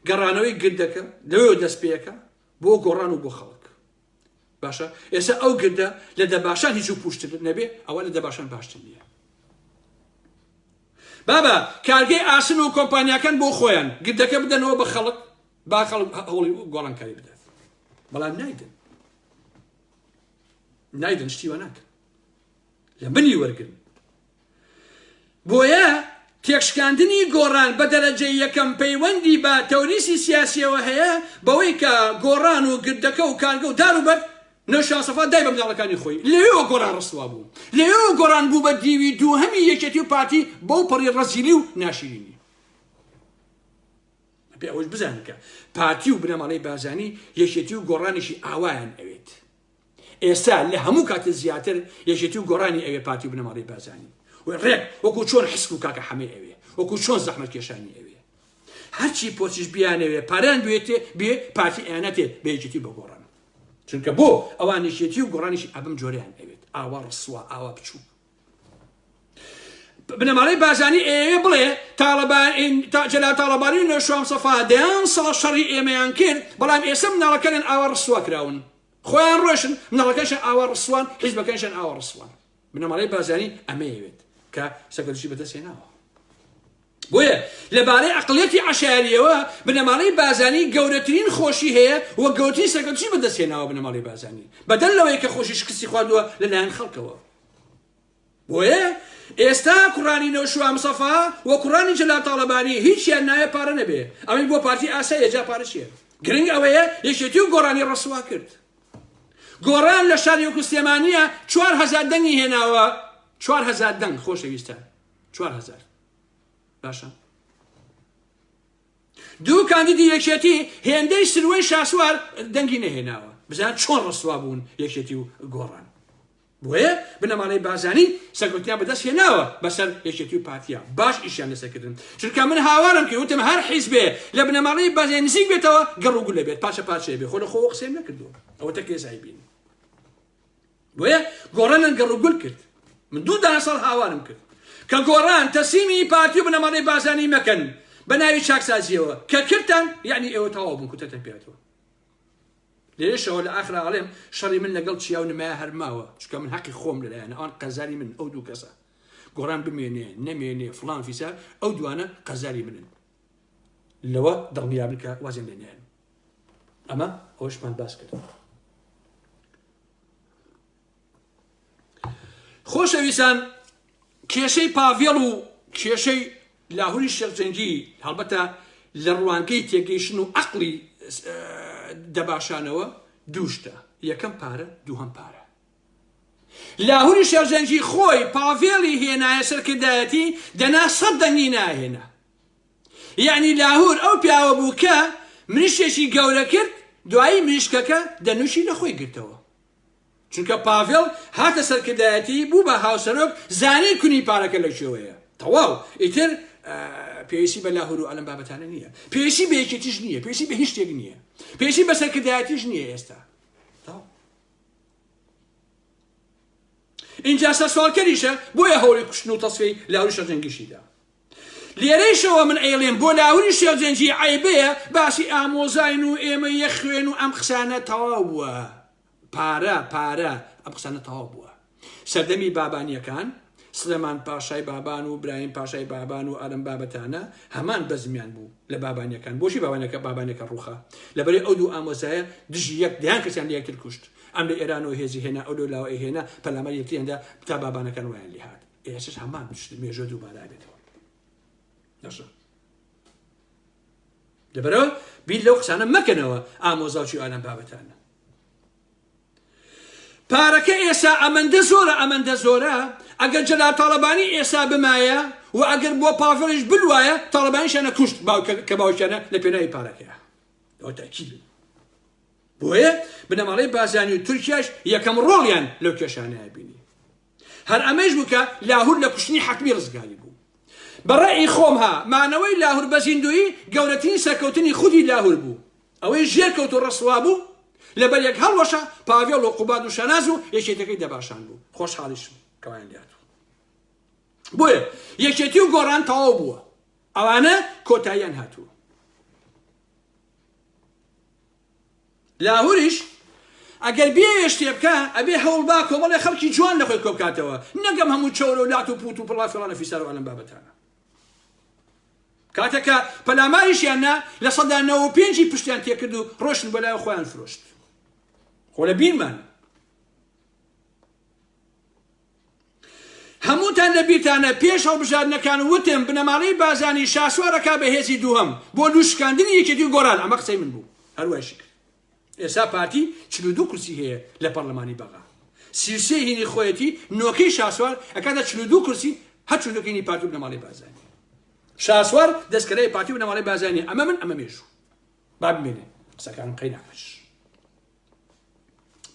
گەڕانەوەی گردەکە لەوێوە دەستپێکە بۆ گۆڕان و بۆ خەڵک. باشە ئێستا ئەو گردە لە دەباشان هیچ و پوشتر نەبێ ئەوە لە دەباشان باشتر نییە بابە کارگەی ئاسن و کۆمپانیاکان بۆ خۆیان گردەکە بدەنەوە بە خەڵک با خەڵک هەوڵی گۆڕانکاری بدات بەڵام نایدن نایدن شتیوە ناکەن لە منی وەرگن بۆیە تێکشکاندنی گۆڕان بە دەرەجەی یەکەم پەیوەندی بە تەوریسی سیاسیەوە هەیە بەوەی کە گۆڕان و گردەکە و کارگە و دار و بەرد نەوشان سەفا دای بە مناڵەکانی خۆی لەوێوە گۆڕان ڕسوا بوو لەوێوە گۆڕان بوو بە دیوی دووهەمی یەکێتی و پارتی بەو پەڕی ڕەزیلی و ناشیرینی پێ ئەوەش بزانکە پارتی و بنەماڵەی بازانی یەکێتی و گۆڕانیشی ئاوایان ئەوێت ئێستا لە هەموو کاتە زیاتر یەکێتی و گۆڕانی ئەوێ پارتی و بنەماڵەی بارزانی و ڕێک وەکو چۆن حسک و کاکە حەمەی ئەوێ وەکو چۆن زەحمەت کێشانی ئەوێ هەرچی پۆچش بیانەوێ پاران بێتێ بێ پارتی ئەیانەتێ بە یەکێتی بە گۆڕان چونکە بۆ ئەوان یەکێتی و گۆڕانیش ئەبم جۆریان ئەوێت ئاوا ڕسووا ئاوا بچوو بنەماڵەی بارزانی ئەیەوێ بڵێ جەلال تاڵەبانی و نەوشام سەفا دەیان ساڵ شەڕی ئێمەیان کرد بەڵام ئێستا مناڵەکانیان ئاوا ڕسوا کراون خۆیان ڕۆشن مناڵەکەشان ئاوا ڕسوان حیزبەکەشان ئاوا ڕسوان بنەماڵەی بارزانی ئەمەیەوێت کە سەکەدوشی بەدەستێناوە بۆیە لە بارەی عەقڵیەتی عەشایەریەوە بنەماڵەی بازانی گەورەترین خۆشی هەیە و گەورەترین سەرکەوتنی بەدەستهێناوە بنەماڵەی بازانی بەدەر لەوەی کە خۆشی شکستی خواردووە لەلایەن خەڵکەوە بۆیە ئێستا کوڕانی نەوشوام سەفا و کوڕانی جەلال تاڵەبانی هیچیان نایە پارە نەبێ ئەوەی بۆ پارتی ئاسایە جا پارە چیە گرنگ ئەوەیە یەکێتی و گۆرانی ڕسوا کرد گۆران لە شاری وەکو سلێمانیە چوار هەزار دەنگی هێناوە چوار هەزار دەنگ خۆشەویستە چوار هەزار باشە دوو کاندیدی یەکێتی هێندەی سروەی شاسوار دەنگی نەهێناوە بزان چۆن ڕسوا بوون یەکێتی و گۆڕان بۆیە بنەماڵەی بازانی سەرکوتیان بەدەست هێناوە بەسەر یەکێتی و پارتیا باش ئیشیان لەسەکردن چونکە من هاوارم کرد وتم هەر حیزبێ لە بنەماڵەی بازێ نزیک بێتەوە گەڕ و گولە بێت پاچە پاچێ بێ خۆ لە خۆ قسەم نەکردو ئەوە تەکێزای بین بۆیە گۆڕان نەن گەڕ و گول کرد من دوو دانە ساڵ هاوارم کرد کە گۆڕان تەسیمی پارتی و بنەماڵەی بازانی مەکەن بە ناوی چاکسازیەوە کە کردتان یعنی ئێوە تەواو بوون کوتەتەن پێاتەوە لێشەوە لە ئاخرا ئاڵێم شەڕی من لەگەڵ چیا و نمای هەرماوە چکە من حەقی خۆم لەلایەن ئەوان قەزاری من ئەو دوو کەسە گۆڕان بمێنێ نەمێنێ فلان فیسار ئەو دوانە قەزاری منن لەوە دڵنیابن کە وازیان لێ نێن ئەمە ئەوشمان باس کرد خۆشەویستان کێشەی پاڤێڵ و کێشەی لاهوری شێخجەنگی هەڵبەتە لە ڕوانگەی تێگەیشن و عقلی دەباشانەوە دووشتە یەکەم پارە دووهەم پارە لاهوری شێرزەنگی خۆی پاڤێڵی هێنایە سەر کردایەتی دەنا سەد دەنگی ناهێنا یعنی لاهور ئەو پیاوە بوو کە مریشکێکی گەورە کرد دوایی مریشکەکە دەنوشی لە خۆی گرتەوە چونکە پاڤێڵ هاتە سەرکردایەتی بوو بە هاوسەرۆک زانی کونی پارەکە لە شێوەیە تەواو ئیتر پێویستی بە لاهور و ئەلم بابەتانە نییە پێویستی بە یەکێتیش نییە پێویستی بە هیچ شتێک نییە پێویستی بە سەرکردایەتیش نییە ئێستا ئینجا سەرسوالکەریشە بۆیە هەوڵی کوشتن و تەسفی لاوری شەرجەنگیشیدا لێرەیشەوە من ئەیڵێم بۆ لاوری شێرجەنجی عیبەیە باسی ئامۆزاین و ئێمە یەخوێن و ئەم قسانە تەواو بووە پارە پارە ئەم قسانە تەواو بووە سەردەمی بابانیەکان، سلێمان پاشای بابان و برایم پاشای بابان و ئەم بابەتانە هەمان بەزمیان بوو لە بابانیەکان بۆچی بابانەکە بابانەکە ڕوخا لەبەری ئەو دوو ئامۆزایە دژی یەک دەیان کەسیان لە یەکتر کوشت ئەم لە ئێران و هێزی هێنا ئەو لەو لاوە هێنا پەلامەر یەکتریاندا بتا بابانەکان وایان لێهات ئێسش هەمان پشت مێژە دووبارە بێتەوە دەشە لەبەرەوە بیر لەو قسانە مەکەنەوە ئامۆزاچی ئالان بابەتانە پارەکە ئێسا ئەمەندە زۆرە ئەمەندە زۆرە ئەگەر جەلال تاڵەبانی ئێسا بمایە و ئەگەر بۆ پاڤڵیش بلوایە تاڵەبانیشانە کوشت کە باوکیانە لە پێناوی پارەکەیە ئەوە تاکید بۆیە بنەماڵەی بازانی و تورکیاش یەکەم ڕۆڵیان لەو کێشانەیە بینی هەر ئەمەیش بوو کە لاهور لە کوشتنی حەتمی ڕزگاری بوو. بە ڕەئی خۆم ها مانەوەی لاهور بە زیندوویی گەورەترین سەرکەوتنی خودی لاهور بوو. ئەوەی ژێر کەوت و ڕسوا بوو لە بەر یەک هەڵوەشا پاڤێڵ و قوباد و شاناز و یەکێتەکەی دەباشان بوو. خۆشحاڵیش بوو کەوایان دیار بوو. بۆیە یەکێتی و گۆڕان تەواو بووە. ئەوانە کۆتاییان هاتووە. لاهوریش ئەگەر بیەوێ شتێ بکا ئەبێ هەوڵ با کۆمەڵێ خەڵکی جوان لەخۆی کۆبکاتەوە نەک ئەم هەموو چەورە و لات و پوت و پڵا فڵانە فیسارو ئەلەم بابەتانە کاتەکە پەلاماریشیان نا لە سەدا نەوە پێنجی پشتیان تێکرد و ڕۆشن بۆ لای خۆیان فرۆشت خۆ لە بیرمان هەمووتان لە بیرتانە پێش هەڵبژاردنەکان وتم بنەماڵەی بازانی شاسوار ئەکا بە هێزی دووهەم بۆ لوشکاندنی یەکێتی و گۆران ئەمە قسەی من بوو هەر وایشی کرد ئێسا پارتی چلو دوو کورسی هەیە لە پەرلەمانی بەغا سیوسێ هینی خۆیەتی نۆکەی شاسوار ئەکاتە چلو دوو کورسی هەر چلو دوکینی پارتی و بنەماڵەی بازانی شاسوار دەستکەرەی پارتی و بنەماڵەی بازانی ئەمە من ئەمە مێژوو با بمێنێ قسەکانم قەی ناکەش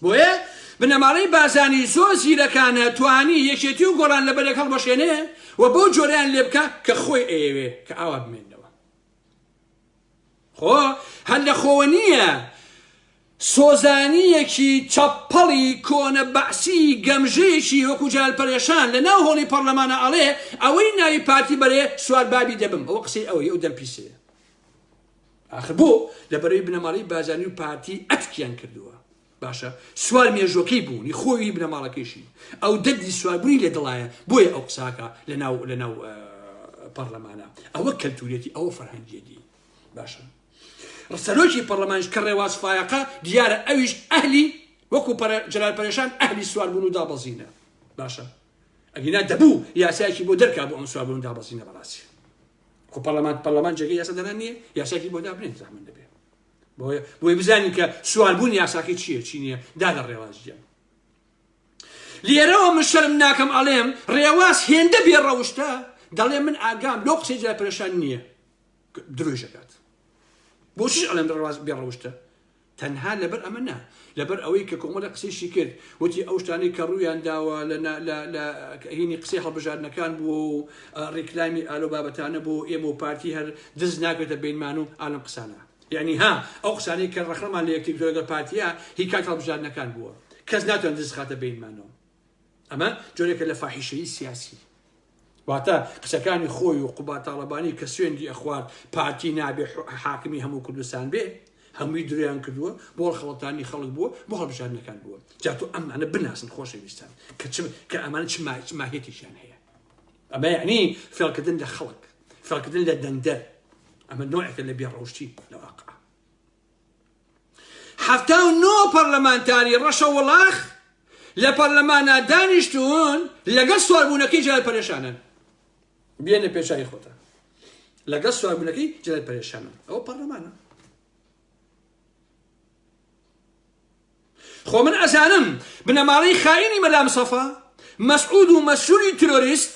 بۆیە بنەماڵەی بارزانی زۆر زیرەکانە توانی یەکێتی و گۆڕان لە بەرێک هەڵبەشێنێ و بەو جۆرەیان لێ بکە کە خۆی ئەیەوێ کە ئاوا بمێنەوە خۆ هەر لە خۆوە نییە سۆزانیەکی چەپەڵی کۆنە بەعسی گەمژەیەکی وەکو جال پەرێشان لە ناو هۆڵی پەرلەمانە ئەڵێ ئەوەی ناوی پارتی بەرێ سوار بابی دەبم ئەوە قسەی ئەوەی ئەو دەمپیسەیە ئاخر بۆ لە بەرەی بنەماڵەی بارزانی و پارتی ئەتکیان کردووە باشە سوار مێژوەکەی بوونی خۆی بنەماڵەکەیشی ئەو دەردی سواربوونی لە دڵایە بۆیە ئەو قساکە لە ناو لە ناو پەرلەمانە ئەوە کەلتورێتی ئەوە فەرهەنگیەتی باشە ڕسەرۆکی پەرلەمانش کە ڕێواز فایەقە دیارە ئەویش ئەهلی وەکو جلال پەرێشان ئەهلی سواربوون و دابەزینە باشە ئەگینا دەبوو یاسایەکی بۆ دەرکا بۆ ئەم سواربوون دابەزینە بەڕاستی خۆ پەرلەمان پەرلەمان جێگەی یاسا دەران نییە یاساکی بۆ دابنێت زەحمەت دەبێ بۆیە بۆی بزانین کە سوالبوون یاساکی چییە چی نییە دادە ڕێوازیان لێرەوە من شەرم ناکەم ئەڵێم ڕێواز هێندە بێ ڕەوشتە دەڵێ من ئاگام لۆ قسەی جای پرێشان نییە درۆژەکات بۆچیش ئەڵێم ڕێواز بێ ڕەوشتە تەنها لەبەر ئەمە نا، لەبەر ئەوەی کە کۆمەڵێک قسەیشی کرد، وتی ئەو شتانەی کە ڕوویان داوە لە نا لە لە هینی قسەی هەڵبژاردنەکان بووە و ڕیکلامی ئالۆ بابەتانە بۆ ئێمە و پارتی هەر دز ناکرێتە بینمان و ئالەم قسانە. یەعنی ها ئەو قسانەی کە ڕەخنەمان لە یەکتر کردوە لەگەڵ پارتیە هی کاتی هەڵبژاردنەکان بووە. کەس ناتوانێت دز خاتە بینمانەوە. ئەمە جۆرێکە لە فاحیشەیی سیاسی واتە قسەکانی خۆی و قوبا تاڵەبانی کە سوێندی ئەخوارد پارتی نابێ حاکمی هەموو کوردستان بێ هەمووی درویان کردووە بۆ خەڵەتانی خەڵک بووە بۆ هەڵبژاردنەکان بووە جاتۆ ئەمانە بناسن خۆشەویستان کە چ کە ئەمان چ ماهێتێکیان هەیە ئەمە یعنی فێڵکردن لە خەڵک فێڵکردن لە دەنگدەر ئەمە نوعەکە لە بێڕەوشتی لە واقع حەفتا و نۆ پەرلەمانتاری ڕەشەوڵاخ لە پەرلەمانا دانیشتوون لەگەڵ سواربوونەکەی جلال پەرێشانن بێنە پێچوی خۆتە لەگەڵ سواربوونەکەی جلال پەرێشانن ئەوە پەرلەمانە خۆ من ئەزانم بنەماڵەی خاینی مەلام سەفا مەسعود و مەسووری ترۆریست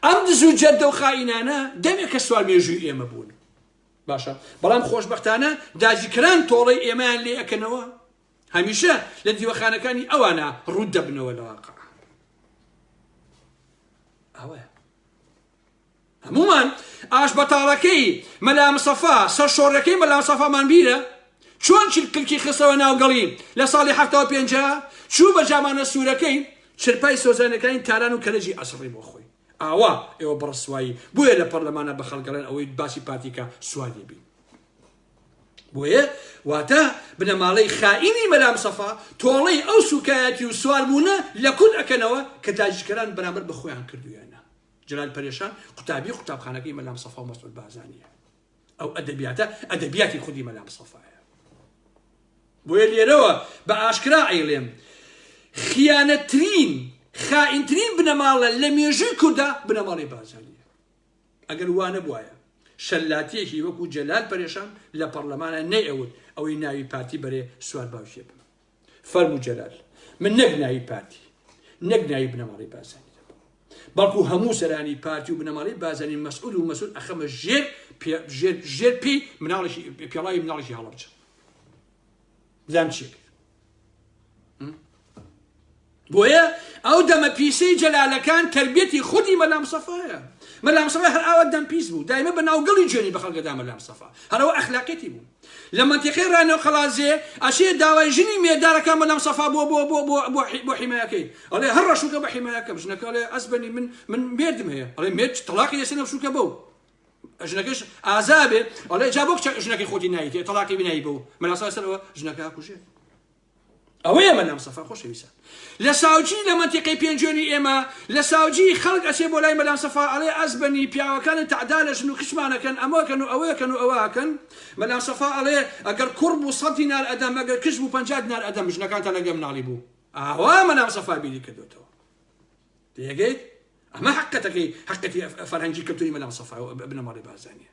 ئەم دز و جەردە و خائینانە دەمێکە سوار مێژووی ئێمە بوون باشە بەڵام خۆشببختانە داجیکران تۆڵەی ئێمەیان لێ ئەەکەنەوە هەمیشە لە دیوەخانەکانی ئەوانە ڕوود دەبنەوە لە واقع ئەوە هەمومان ئاش بەتاڵەکەی مەلامسەفا سەر شۆڕەکەی مەلامسەفامان بیرە چۆن کلکی خستەوە ناوگەڵی لە ساڵی هەفتەوە پێنج چوو بە جامانە سوورەکەی چرپای سۆزانیەکانی تاران و کەرەجی ئەسڕی بۆ خۆی ئاوا ئێوە بەڕسوایی بۆیە لە پەرلەمانە بە خەڵگەڵێن ئەوەی باسی پارتیکە سوار دەبین بۆیە واتە بنەماڵەی خائینی مەلام سەفا تۆڵەی ئەو سوکایەتی و سواربوونە لە کورد ئەکەنەوە کە تاجیکەران بەرامبەر بە خۆیان کردویانە جلال پەرێشان قوتابی قوتابخانەکەی مەلام سەفا و مەسعود بازانیە ئەو ئەدەبیاتە ئەدەبیاتی خودی مەلا مستەفایە بۆیە لێرەوە بە ئاشکرا ئەیڵێم خیانەترین خائینترین بنەماڵە لە مێژووی کوردە بنەماڵی بازاریە ئەگەر وانە بواە شەلاتیەکی وەکو جەلال پەرێشان لە پەرلەمانە نەیەوت ئەوەی ناوی پارتی بەرێ سوار باوشێ بن فەرموو جەلال، من نەک ناوی پارتی، نەک ناوی بنەماڵەی بارزانی دەبەم، بەڵکو هەموو سەرانی پارتی و بنەماڵەی بارزانی مەسئول و مەسئول ئەخەمە ژێر ژێر ژێر پێی مناڵێکی پێڵاوی مناڵێکی هەڵەبجە. بزانم چییە کرد. بۆیە ئەو دەمە پیسەی جەلالەکان تەربیەتی خودی مەلام سەفایە مەلام سەفا هەر ئاوا دەم پیس بوو دایمە بە ناوگەڵی جوێنی بە خەڵکەدا مەلام سەفا هەرەوە ئەخلاقێتی بوو لە منتیقی ڕانەوە قەڵازێ ئەچێ داوای ژنی مێدارەکە مەلام سەفا بۆ بۆ بۆ بۆ بۆ حیمایەکەی ئەڵێ هەر ڕەشوکە بە حیمایەکەم ژنەکەڵێ ئەسبنی من من مێردم هەیە ئەڵێ مێرد تەلاقی لەسەر نەفشوکە بەو ژنەکەش ئازابێ ئەڵێ جا بۆ ژنەکەی خۆتی نایتێ تەلاقی بنایی بەو مەلاسا سەرەوە ژنەکە کوژێت ئەوەیە مەلام سەفا خۆشەویسان لە ساوجی لە مەنتیقەی پێنجێنی ئێمە لە ساوجی خەڵک ئەچێ بۆ لای مەلام سەفا ئەڵێ ئەزبەنی پیاوەکانی تەعدا لە ژن و کچمانەکەن ئەمەکەن و ئەوەکەن و ئەوەکەن مەلام سەفا ئەڵێ ئەگەر کوڕ بوو سەد دینار ئەدەم ئەگەر کچ بوو پەنجا دینار ئەدەم ژنەکانتان لەگەڵ مناڵی بوو ئاوا مەلام سەفا بیری کردوێتەوە تێگەیت ئەمە حقەتەکەی حقەتی فەرهەنگی کەلتوری مەلام سەفا بنەماڵی بازانیە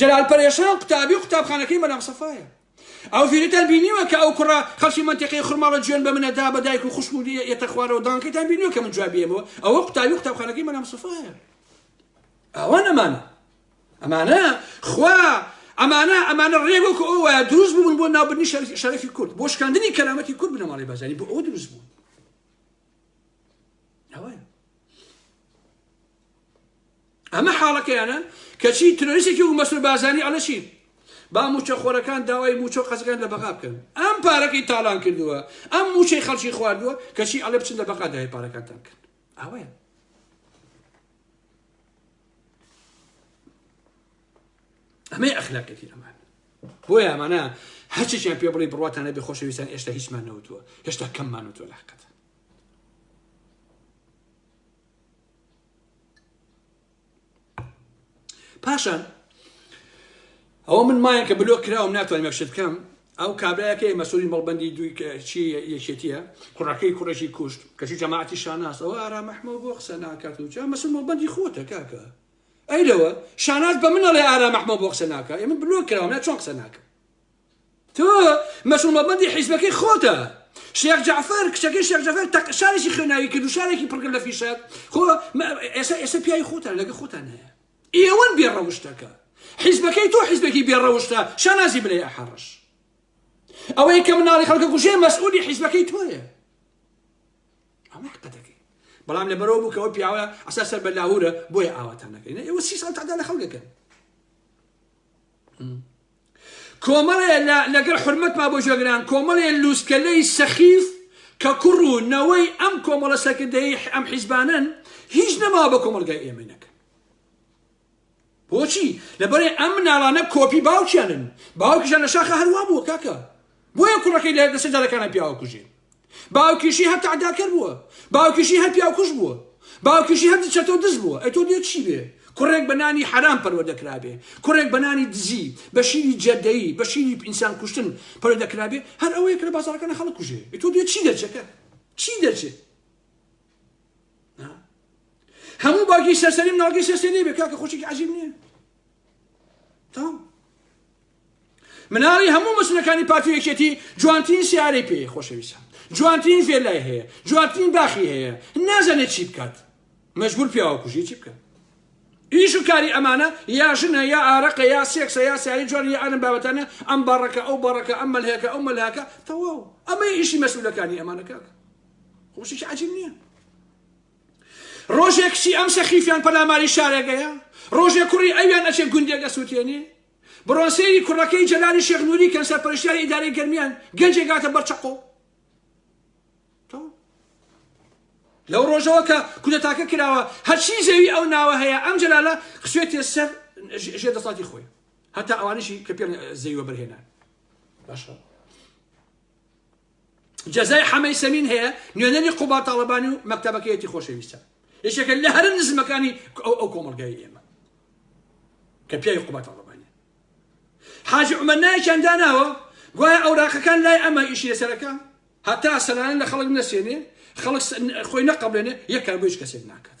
جەلال پەرێشان قوتابی قوتابخانەکەی مەلام سەفایە. ئەو ڤیدیۆتان بینیوە کە ئەو کوڕە خەڵکی مەنتیقەی خورماڵە جوێن بە منە دا بە دایک و خوشک و یەتە خوارەوە دانکەتان بینیوە کە من جوابی ئێمەوە ئەوە قوتابی قوتابخانەکەی مەلام سەفایە ئەوان ئەمانە ئەمانە خوا ئەمانە ئەمانە ڕێک وەکو ئەو وایە دروست بوون بۆ ناوبردنی شەرەفی کورد بۆ شکاندنی کەرامەتی کورد بنەماڵی بازاری بۆ ئەو دروست بوون ئەوەیە ئەمە حاڵەکەیانە کەچی ترۆریسێکی و مەسرور بازانی ئەڵە چی با موچە خۆرەکان داوای موچە و قەزەکان لە بەغا بکەن ئەم پارەکەی تاڵان کردووە ئەم موچەی خەڵکی خواردووە کەچی ئەڵێ بچن لە بەغا داوای پارەکانتان کرد ئەوەیە ئەمەی ئەخلاقێتی ئەمان بۆیە ئەمانە هەرچیان پێ بڵی بڕاتانە بێ خۆشەویستان ئێشتا هیچمان نەوتووە هێشتا کەممان وتوە لە حقەت پاشان ئەوە من مایە کە بلۆک کراوم ناتوانین مەشت بکەم ئەو کابراەکەی مەسوری مەڵبندی دوی چی یەکێتیە کوڕەکەی کوڕێکی کوشت کەچی جەماعتی شاناس ئەوە ئارا مەحمە بۆ قسە ناکات و جا مەسول مەڵبندی خۆتە کاکە ئەیلەوە شاناز بە منەڵێ ئارا مەحمە بۆ قسە ناکە ئێمە بلۆک کراوە چۆن قسە ناکە تۆ مەسعود مەبەندی حیزبەکەی خۆتە شێخ جعفر کچەکەی شێخ جعفر تەق شارێکی خوێناوی کرد و شارێکی پڕکرد لە فیشەک خۆ ئێستا ئێستا پیاوی خۆتان لەگە خۆتان هەیە ئێوەن بێڕەوشتەکە حیزبەکەی تۆ حیزبێکی بێڕەوشتە شانازی بلێ ئەحەڕش ئەوەی کە مناڵی خەڵکە کوژێ مەسعودی حیزبەکەی تۆیە ئەمە حقەتەکەی بەڵام لە بەرەوە بووکەوە پیاوە ئەسا سەر بە لاهورە بۆیە ئاواتان نەکەین ئێوە سی ساڵ تادا لە خەڵکەکەن کۆمەڵێ لە لەگەڵ حورمەتما بۆ جێگران کۆمەڵێ لووسکەلەی سەخیف کە کوڕ و نەوەی ئەم کۆمەڵە سەرکردەی ئەم حیزبانن هیچ نەماوە بە کۆمەلگای ئێمەی نەکەن بۆچی لەبەرێ ئەم مناڵانە کۆپی باوکیانن باوکیشان لە شاخە هەروە بووە کاکە بۆیە کوڕەکەی لە لەسەر جادەکانا پیاوکوژین باوکیشی هەر تعداکەر بووە باوکیشی هەر پیاوکوژ بووە باوکیشی هەر چەتەو دز بووە ئەی تۆ دێت چی بێ کوڕێک بە نانی حەرام پەروەدەکرابێ کوڕێک بە نانی دزی بە شیری جەدەیی بە شیری ئینسان کوشتن پەروەدەکرابێ هەر ئەوەیە کە لە بازاڕەکەنە خەڵک کوژێ ئەی تۆ دێت چی دەرچەکە چی دەرچێ هەموو باگی سەرسەری مناڵگەی سەرسەری بێ کاکە خۆشێکی عەجیب نییە تام مناڵی هەموو مەسولەکانی پارتی و یەکێتی جوانترین سیارەی پێی خۆشەویستە جوانترین ڤێلای هەیە جوانترین باخی هەیە نازانێت چی بکات مەجبور پیاوە کوژی چی بکات ئیش و کاری ئەمانە یا ژنە یا ئارەقە یا سێکسە یا سیاری جوان یا ئەرم بابەتانە ئەم باڕەکە ئەو باڕەکە ئەم مەلهەکە ئەو مەلهاکە تەواو ئەمە ئیشی مەسولەکانی ئەمانەکە خۆشی عجیب نییە ڕۆژێک کچی ئەم سەخیفیان پەلاماری شارێگەیە ڕۆژێ کوڕی ئەویان ئەچێ گوندێک ئەسووتێنێ بڕۆن سەیری کوڕەکەی جەلالی شێخ نوری کەن سەرپەرشتیاری ئیدارەی گەرمیان گەنجێک هاتە بەر چەقۆ لەو ڕۆژەوە کە کودەتاکە کراوە هەرچی زەوی ئەو ناوە هەیە ئەم جەلالە خسوێتێ سەر ژێ دەسڵاتی خۆی هەتا ئەوانیشی کە پێ زەویوە بەرهێنان باشە جەزای حەمەی سەمین هەیە نوێنەری قوباد تاڵەبانی و مەکتەبەکەیەتی خۆشەویستە یەکێکە لە هەرە نزمەکانی ئەو کۆمەلگای ئێمە کە پیاوی قوباد تاڵەبانی حاجی عمر نایکیان داناوە گوایە ئەوراقەکان لای ئەمە ئیشی لەسەرەکە هەتا سەلانە لە خەڵک نەسێنێ خەڵک خۆی نەقبلێنێ یەکار بۆ هیچ کەسێک ناکات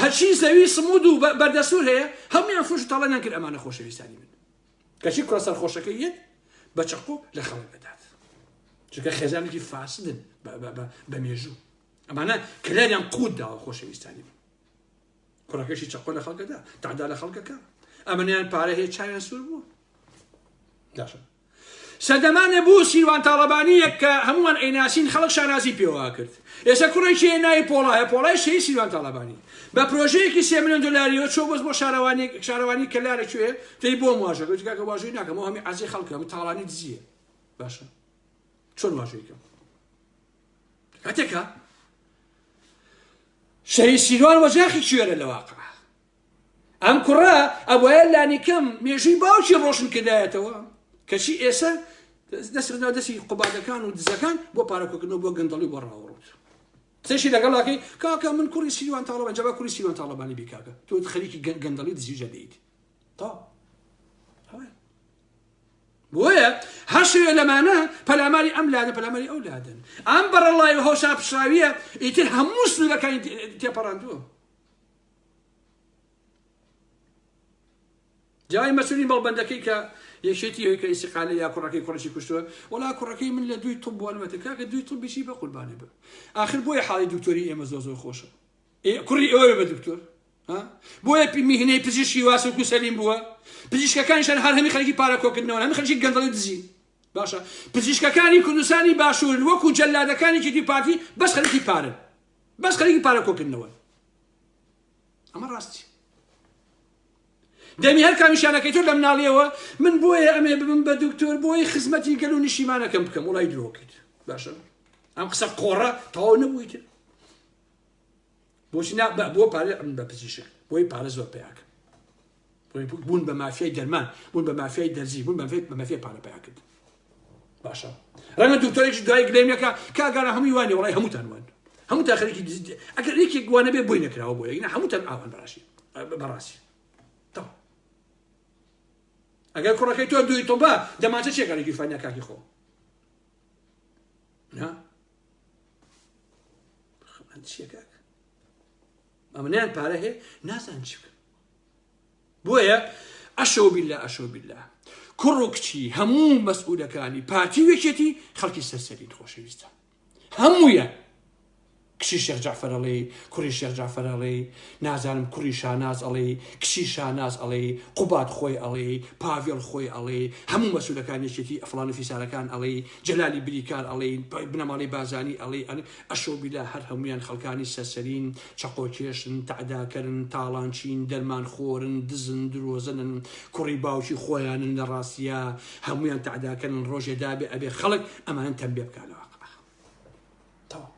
هەرچی زەوی سمود و بەردەسوور هەیە هەمویان فرش و تاڵانیان کرد ئەمانە خۆشەویستانی من کەچی کوڕە سەرخۆشەکە یەت بە چەقۆ لە خەڵک دەدات چونکە خێزانێکی فاسدن بە مێژوو ئەمانە کلێریان قوت داوە خۆشەویستانی من کوڕەکەشی چەقۆ لە خەڵکەدا تادا لە خەڵکەکە ئەمەنیان پارە هەیە چاویان سوور بوو داشە سەدەمانێ بوو سیروان تاڵەبانییەک کە هەموومان ئەیناسین خەڵک شانازی پێوە ئەکرد ئێستا کوڕێکی هەیە ناوی پۆڵا هەیە پۆڵای شەهید سیروان تاڵەبانی بە پرۆژەیەکی سێ ملیۆن دۆلاریەوە چۆ بەس بۆ شارەوانیەک شارەوانی کەلارە کوێ تێی بۆم واژە گوتی کاکە واژۆی ناکەم ئەو هەمی عەزی خەڵکە ئەم تاڵانی دزیە باشە چۆن واژۆی کەم کاتێکە شەهید سیروان وەجاخی کوێرە لە واقع ئەم کوڕە ئەبوایە لانیکەم مێژووی باوکی ڕۆشن کردایەتەوە کەچی ئێسە دەسرنا دەسی قوبادەکان و دزەکان بۆ پارەکۆکردنەوە بۆ گەندەڵی بۆ ڕاوڕوت قسەشی لەگەڵاکەی کاکە من کوڕی سیوان تاڵەبان جەبا کوری سیوان تاڵەبانی بیکاکە تۆ خەریکی گەندەڵی دزیجە دەیت تا بۆیە هەشێ لەمانە پەلاماری ئەم لادە پەلاماری ئەو لادن ئەم بەڕەڵای و هەوشا پشراویە ئیتر هەموو سنوورەکانی تێپەڕاندووە جای مەسولی مەڵبەندەکەی کە یەکێتی هەوی کە ئیسیقالی یا کوڕەکەی کوڕشی کوشتووە وڵا کوڕەکەی من لە دوی تب بووەمەتە کاکە دوی تب بشی بە قوربانی بە آخر بۆیە حاڵی دکتۆری ئێمە زۆ زۆر خۆشە کوڕی ئەوە بە دکتۆر بۆیە میهنەی پزیشکی واسە و سەلیم بووە پزیشکەکانشان هەر هەمی خەرکی پارە کۆکردنەوە هەمی خەرکی گەندڵی دزی باشە پزیشکەکانی کوردستانی باشوور وەکو جەلادەکانی کیتی پارتی بەس خەرکی پارە بەس خەرکی پارە کۆکردنەوە ئەمە ڕاستی دەمی هەر کامیشانەکەی تۆ لە مناڵیەوە من بۆیە ئەمێ ببم بە دکتۆر بۆی خزمەتی گەل و نیشیمانەکەم بکەم وڵای درۆکەیت باشە ئەم قسە قۆڕە تەواو نەبوویت بۆچی بۆ پارە بە پزیشک بۆی پارە زۆر پیاکە بوون بە مافیای دەرمان بوون بە مافیای دەرزی بوون بەێت بە مەفێ پارە پیا کرد باشە ڕەنگە دکتۆرێکی دوای گرێمەکە کاگەرە هەمووی وانێ وڵی هەمووتان وان هەموو تا خەرێکی دزیت ئەگەر یەکێک گوانە بێ بۆی نەکراوە بۆ یەک هەمووتان ئاوان بەڕاشی بەڕاستی ئەگەر کوڕەکەی تۆ دووی تۆبە دەماچە چێکارێکی فانیا کاکی خۆ چیەکە ئەمنیان پارە هەیە نازان چ بکە بۆیە ئەشەو بیلا ئەشەو بیلا کوڕ و کچی هەموو مەسئولەکانی پارتی و یەکێتی خەڵکی سەرسەرین خۆشەویستە هەموویە کچی شێخ جعفر ئەڵێ کوڕی شێخ جعفر ئەڵێ نازانم کوڕی شاناز ئەڵێ کچی شاناز ئەڵێ قوبات خۆی ئەڵێ پاڤێڵ خۆی ئەڵێ هەموو مەسولەکان یەکێتی ئەفلان و فیسارەکان ئەڵێ جەلالی بریکار ئەڵێ بنەماڵی بازانی ئەڵێ ئەشۆبیلا هەر هەموویان خەڵکانی سەرسەرین، چەقۆکێشن، تەعداکەرن، تاڵانچین، دەرمانخۆرن، دزن، درۆزنن، کوڕی باوکی خۆیانن لە ڕاستیا هەموویان تەعداکەرن ڕۆژێ دابێ ئەبێ خەڵک ئەمانە تەمبێ بکا لە واقع تەواو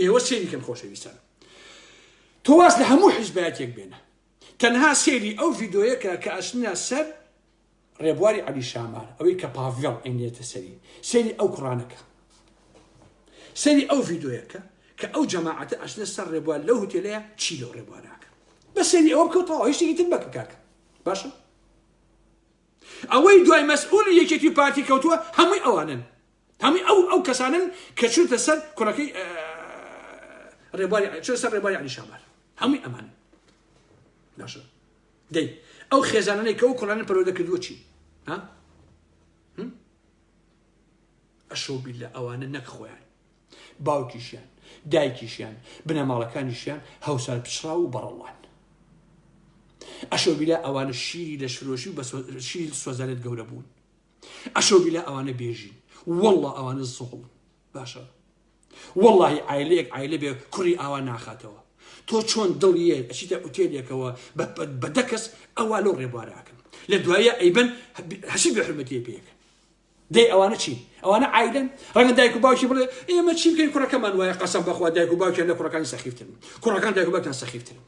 ئێوە سێری کەن خۆشەویستان تۆواز لە هەموو حیزبایەتێک بێنە تەنها سێری ئەو ڤیدۆیەکە کە ئەسنە سەر ڕێبواری عەلی شامار ئەوەی کە پاڤێڵ ئەینێتە سەری سەیری ئەو کوڕانە کە سەری ئەو ڤیدۆیە کە کە ئەو جەماعەتە ئەچنە سەر ڕێبوار لەو هوتێلەیە چی لەو ڕێبوارەکە بە سەری ئەوە بکەوتەوە هیچتێکی تر بەکە کاکە باشە ئەوەی دوای مەسئول یەکێتی پارتی کەوتووە هەمووی ئەوانن هەمووی ئەو ئەو کەسانن کە چونتە سەر کوڕەکەی ڕێبواری چۆن سەر ڕێبواری علی شامار هەمووی ئەمان باشە دەی ئەو خێزانانەی کە ئەو کوڕانە پەروەردە کردووە چی ها ئەشەو بیلە ئەوانە نەک خۆیان باوکیشیان دایکیشیان بنەماڵەکانیشیان هەوسار پچڕا و بەڕەڵان ئەشەو بیلە ئەوانە شیری لە شرۆشی و شیل سۆزانێت گەورە بوون ئەشەو بیلە ئەوانە بێژین والله ئەوانە زۆڵن باشە وەڵی ئایلەیەک ئایلە بێ کوڕی ئاوا ناخاتەوە تۆ چۆن دڵیە ئەچیتە ئوتێلێکەوە بە دەکەس ئەوە لەو ڕێبوارەکەم لە دوایە ئەیبەن هەشی بەحرمەتی پێکە دەی ئەوانە چی ئەوانە ئایدن ڕەنگە دایک و باوکی بڵێ ئێمە چی بکەین کوڕەکەمان وایە قەسم بەخوا دایک و باوکیان لە کوڕەکانی سەخیفتن کوڕەکان دایک و باوکیان سەخیفتن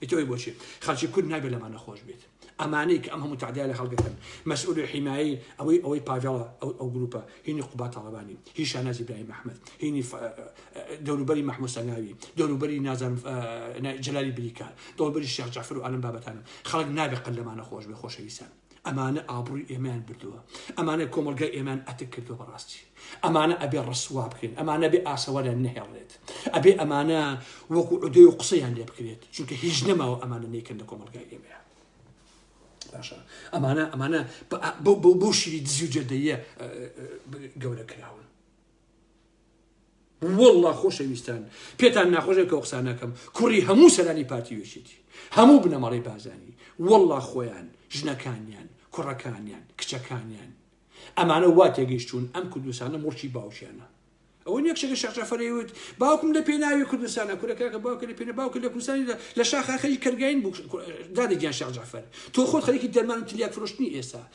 ئیتر ئەوی بۆچی خەڵکی کورد نابێت لەمان نەخۆش بێت ئەمانەی کە ئەم هەموو تعدای لە هەڵگەکەن مەسئول و حیمایی ئەوەی ئەوەی پاڤڵە ئەو ئەو گروپە هینی قوبا تاڵەبانی هی شانازی برای مححمد هینی دەوروبەری مححموسەناوی دەوروبەری نازان جلالی بریکار دەوروبەری شێخ جعفر و ئالم بابەتانم خەڵک نابێت قەلەمانە خۆش بێ خۆشەویستان ئەمانە ئابڕوی ئێمەیان بردووە ئەمانە کۆمەلگای ئێمان ئەتک کردو بەڕاستی ئەمانە ئەبێ ڕسوا بکەین ئەمانە بێ ئاسەوەریان نەهێڵێت ئەبێ ئەمانە وەکو عودێ و قسەیان لێ بکرێت چونکە هیچ نەماوە ئەمانە نیکەن لە کۆمەلگای ئێمە باشە ئەمانە ئەمانە بۆ شیری دزی و جەردەیە گەورە کراون وەڵڵا خۆشەویستان پێتان ناخۆشێک کە قسانەکەم کوڕی هەموو سەرانی پارتی وێشێتی هەموو بنەماڵی بازانی وەڵڵا خۆیان ژنەکانیان کوڕەکانیان کچەکانیان ئەمانە وا تێگەیشتون ئەم کوردستانە مڵکی باوکیانە ئەوە نیە کچەکە شەقەفەرەیوت باوکم لە پێناوی کوردستانە کورەکەکە باوکە لە پێنە باوکە لە کوردستانی لە شاخاخەی کەرگین بوو دادەگیان شەق جعفەر تۆ خۆت خەریکی دەرمان تلیاک فرۆشتنی ئێستا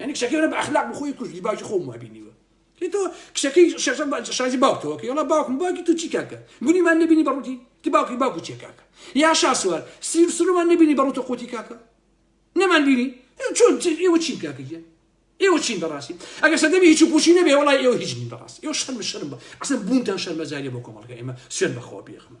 یعنی کچەکەی منە بە ئەخلاق بە خۆی کوشت باوکی خۆم وای بینیوە تۆ کچەکەی شێخ شازی باوکتەوە کە یڵا باوکم باوکی تو چی کاکە گونیمان نبینی بەڕوتی تی باوکی باوکی چێ کاکە یا شاسوار سیر سرومان نبینی بەڕوتە قوتی کاکە نەمان بینی چۆن ئێوە چین کاکە گیان ئێوە چین بەڕاستی ئەگەر سەدەمی هیچ پوشی نەبێ وڵای ئێوە هیچ نین بەڕاست ئێوە شەرم شەرم بە ئەسن بوونتان شەرمەزاریە بۆ کۆمەڵگە ئێمە سوێن بەخۆ بێخمە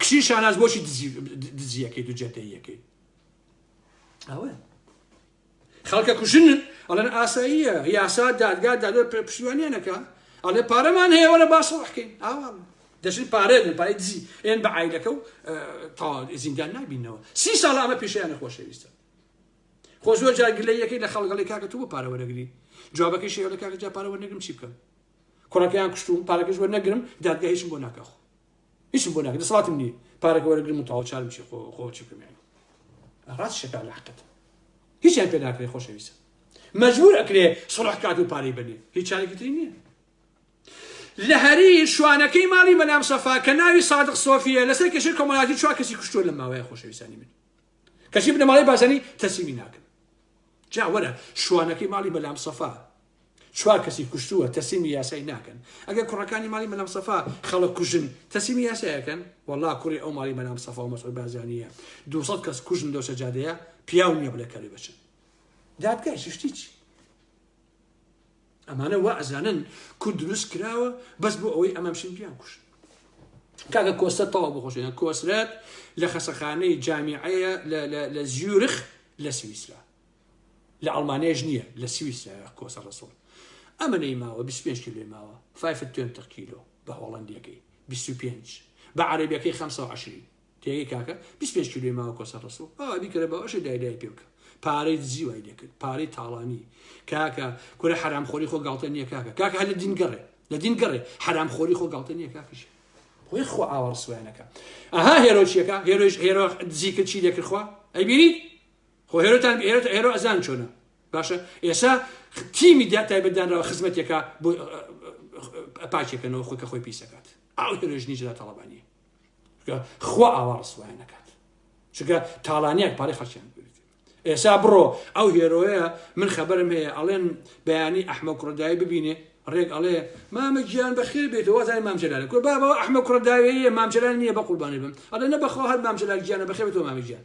کچی شاناز بۆچی دزیەکەی دو جێتەیەکەی ئەوە خەڵکە کوژن ئەڵەن ئاساییە یاسا دادگا دادە پشتیوانیانەکە ئەڵێ پارەمان هەیە وەرە باسەڵحکەین ئاوا دەژن پارێ لە پای دزی ئێن بە عیلەکە و تا زیندان نابینەوە سی ساڵ ئەمە پیشیان نەخۆشەویستە خۆ زۆر جارگلە یەکەی لە خەڵگەڵی کاکە تو بۆ پارەوەرەگری جوابەکەی شێوە لە کاکە جا پارەوە نەگرم چی بکەم کوڕەکەیان کوشتوم پارەکەش وە نەگرم دادگە هیچم بۆ ناکەخۆ هیچم بۆ ناکە دەسەڵاتم نییە پارەکە وەرەگرم و تەواو چارم چی خۆ خۆ چی بکەم یانی ڕاست شەکا لە حەقت هیچیان پێ ناکرێ خۆشەویستە مەجبور ئەکرێ سڵح کات و پارەی بەنێ هیچ چارێکی تری نییە لە هەری شوانەکەی ماڵی مەلام سەفا کە ناوی سادق سۆفیە لەسەر کەشی کۆمەڵاتی چوار کەسی کوشتووە لە ماوەیە خۆشەویستانی من کەچی بنەماڵی بازانی تەسیمی ناکەن جاوەرە شوانەکەی ماڵی مەلام سەفا چوار کەسی کوشتووە تەسیمی یاسای ناکەن ئەگەر کوڕەکانی ماڵی مەلام سەفا خەڵک کوژن تەسیمی یاسایەکەن وەڵا کوڕی ئەو ماڵی مەلام سەفا و مەسعود بازانیە 200 کەس کوژن لەو سەجادەیە پیاو نییە بڵێ کەلوی بچن دادگای شتی چی ئەمانە وا ئەزانن کورد دروست کراوە بەس بۆ ئەوەی ئەمامشین پیان کوشت کاکە کۆسە تەوا بخۆشێن کۆسرەت لە خەسەخانەی جامیعەیە لە زیورخ لە سویسرا لە ئەڵمانیاش نییە لە سویسرا کۆسە ڕسوڵ ئەمە نەی ماوە 25 کیلۆی ماوە فایفت توێن تق کیلۆ بە هۆڵندیەکەی 25 بە عربیەکەی 520 تێگەی کاکە 25 کیلۆی ماوە کۆسە ڕسوڵ ئەوە بیکەرە باوەشە دایدای پێ بکە پارەی دزی وای دەکرد پارەی تاڵانی کاکە کورە حرام خۆری خۆ گاڵتە نییە کاکە کاکە هەر لە دین گەڕێ لە دین گەڕێ حرام خۆری خۆ گاڵتە نییە کاکەش خۆی خۆ ئاوە ڕسویانەکە ئەها هێرۆچیەکە هێرۆش هێرۆ دزی کرد چی دەکرد خوا ئەی بینی خۆ هێرۆتان ئێرە ئێرۆ ئەزان چۆنە باشە ئێسا تیمی دا تایبەت دانراوە خزمەتێکە بۆ پاچێکەکەنەوە خۆکە خۆی پیسەکات ئاو هێرۆژنی جلا تاڵبانی خوا ئاوا ڕسوایان نەکات چگە تاڵانیان پارێ خەچیان ئێسا بڕۆ ئەو هێرۆیە من خەبەرم هەیە ئەڵێن بەیانی ئەحمە کوڕدای ببینێ ڕێک ئەڵێ مامە گیان بەخێر بێت وازای مامجلال کو بابەوە ئەحمە کوڕداوێ مامجلال نییە بە قوربانی بم ئەڵێ نە بەخۆ هەر مامجلال گیانە بەخێ تۆ مامە گیان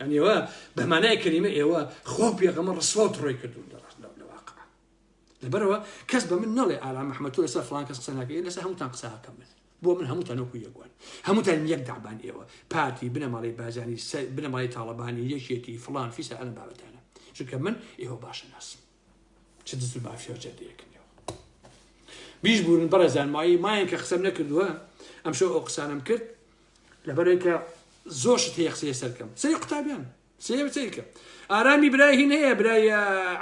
یانی ئێوە بە مانای کەلیمە ئێوە خوا و پێغەمە ڕسوا و تڕۆی کردون لە ڕاست لە واقع لەبەرەوە کەس بە من نەڵێ ئارا محمد تۆ لەسەر فلان کەس قسە ناکەی لەسەر هەمووتان قساکەم من بۆ من هەمووتان وەکو یەکوان هەمووتان یەک دابان ئێوە پارتی بنەماڵی بازانی بنەمای تاڵەبانی یەکێتی فلان فیسە ئەلە بابەتانە چونکە من ئێوە باشە ناسم چ دز و مافیا و جەردەیەک نێوە بیش بوون بەڕێزان مایە مایەن کە قسەم نەکردووە ئەم شەو ئەو قسانم کرد لەبەرێکە زۆر شت هەیە قسەیە سەرکەم سەری قوتابیان سێم سەیرکە ئارامی برای هین هەیە برای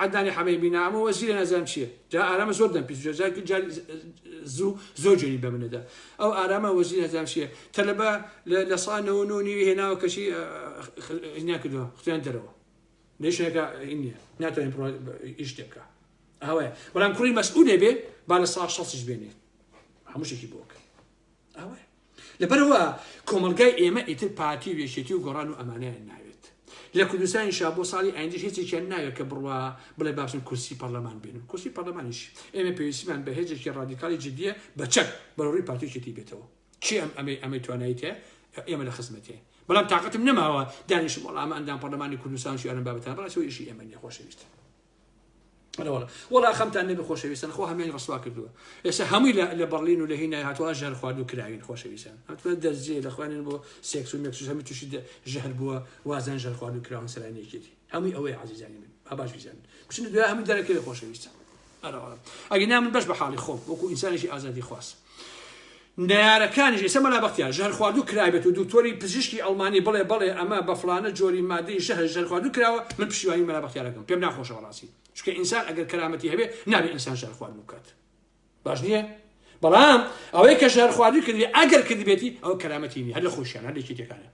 عدانی حەمەی بینا ئەمە وەزیرە نەزان چییە جا ئارامە زۆر دەم پیس زوو زۆر جێری بە منەدا ئەو ئارامە وەزیر نەزان چییە تەلەبە لە سانەوە نۆ نیوی هێناوە کەشی ناکردووە خیان دەرەوە نەیشێکا هین نیە ناتوانین پڕۆ ئیش تێبکە ئەوەیە بەڵام کوڕی مەسعودێ بێ با لە ساڵ شەستیش بێنێ هەمووشێکی بۆک ئەوەیە لەبەرەوە کۆمەلگای ئێمە ئیتر پارتی و یەکێتی و گۆڕان و ئەمانیان ناوێت لە کوردستانی شا بۆ ساڵی ئایندش هێزێکیان ناوێت کە بڕوا بڵێ باشن کورسی پەرلەمان بێن و کورسی پەرلەمانیش ئێمە پێویستمان بە هێزێکی ڕادیکالی جددیە بە چەک بەڕووی پارتیکێتی بێتەوە کێ ئەم ئەمەی ئەمەی توانایی تێ ئێمە لە خزمەتێ بەڵام تااقەتم نەماوە دانیش وەڵام ئەندام پەرلەمانی کوردستان شوێنم بابتان بەڵاس ئیشی ئێمە نیە خۆشەویست وڵا خەمتان نەبی خۆشەویستن خۆ هەمێن ڕسوا کردووە ئێستا هەمووی لە بەڵین و لە هی نایهاتوە ژەر خوارد و کراوین خۆشەویستان ئەتوان دەرزیێ لە خوێنن بۆ سێکس و مێکسوس هەمی تووشی ژەهر بووە وازان ژەر خوارد و کراون سەرانێکێتی هەمووی ئەوەی عزیزانی من با باش بیزانن بچنە دوای هەموو دەرەکەوێ خۆشەویستە ئەگە نا من بەش بە حاڵی خۆم وەکو ئینسانێکی ئازادی خواست نارەکانیش ئێستا مەلا بەختیار ژەر خواردو کرابێت و دکتۆری پزیشکی ئەڵمانی بڵێ بڵێ ئەمە بە فلانە جۆری مادەی ژەهر ژەر خواردو کراوە من پشیوانی مەلا بەختیارەکەم پێم ناخۆشە بەڕاستی چکە ئینسان ئەگەر کەرامەتی هەبێ نابێ ئینسان ژەر خوارد بکات باش نییە بەڵام ئەوەی کە ژەر خواردو کردی ئەگەر کردبێتی ئەو کەرامەتی نیە هەر لە خۆشیان هەر لەکی تێکانە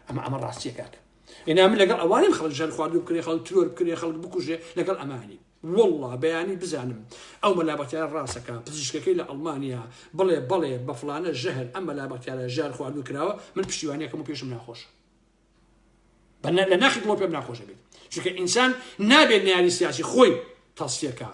ئەمە ئەمە ڕاستیە کاکە ئینا من لەگەڵ ئەوانیم خەڵک ژەن خواردو بکرێ خەڵک ترۆر بکرێ خەڵک بکوژێ لەگەڵ ئەمانی والله بەیانی بزانم ئەو مەلابەتیان ڕاستەکە پزیشکەکەی لە ئەڵمانیا بڵێ بەڵێ بە فلانە ژەهر ئەم مەلابەتیانە ژار خواردو کراوە من پشتیوانیەکەم و پێشم ناخۆش بە لە ناخی دڵۆ پێم ناخۆشە بێت چونکە ئینسان نابێت نیاری سیاسی خۆی تەڵسیەکە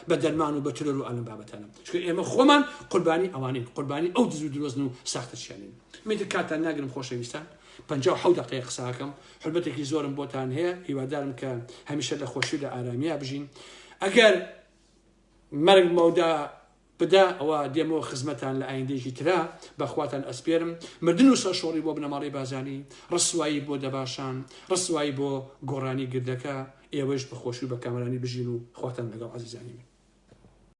بە دەرمان و بە ترۆر و ئەلم بابەتانە چکە ئێمە خۆمان قوربانی ئەوانین قوربانی ئەو دز و درۆزن و ساختەشیانین میتر کاتان ناگرم خۆشەویستان پ دقی قساکەم حلبەتێکی زۆرم بۆتان هەیە هیوادارم کە هەمیشە لە خۆشی لە ئارامیە بژین ئەگەر مەرگ مەودا بدا ئەوا دێمەوە خزمەتان لە ئایندەیەکی ترا بە خواتان ئەسپێرم مردن و سەرشۆڕی بۆ بنەماڵەی بازانی ڕسوایی بۆ دەباشان ڕسوایی بۆ گۆڕانی گردەکە ئێوەیش بە خۆشی و بە کامەرانی بژین و خواتان لەگەڵ ئازیزانی من.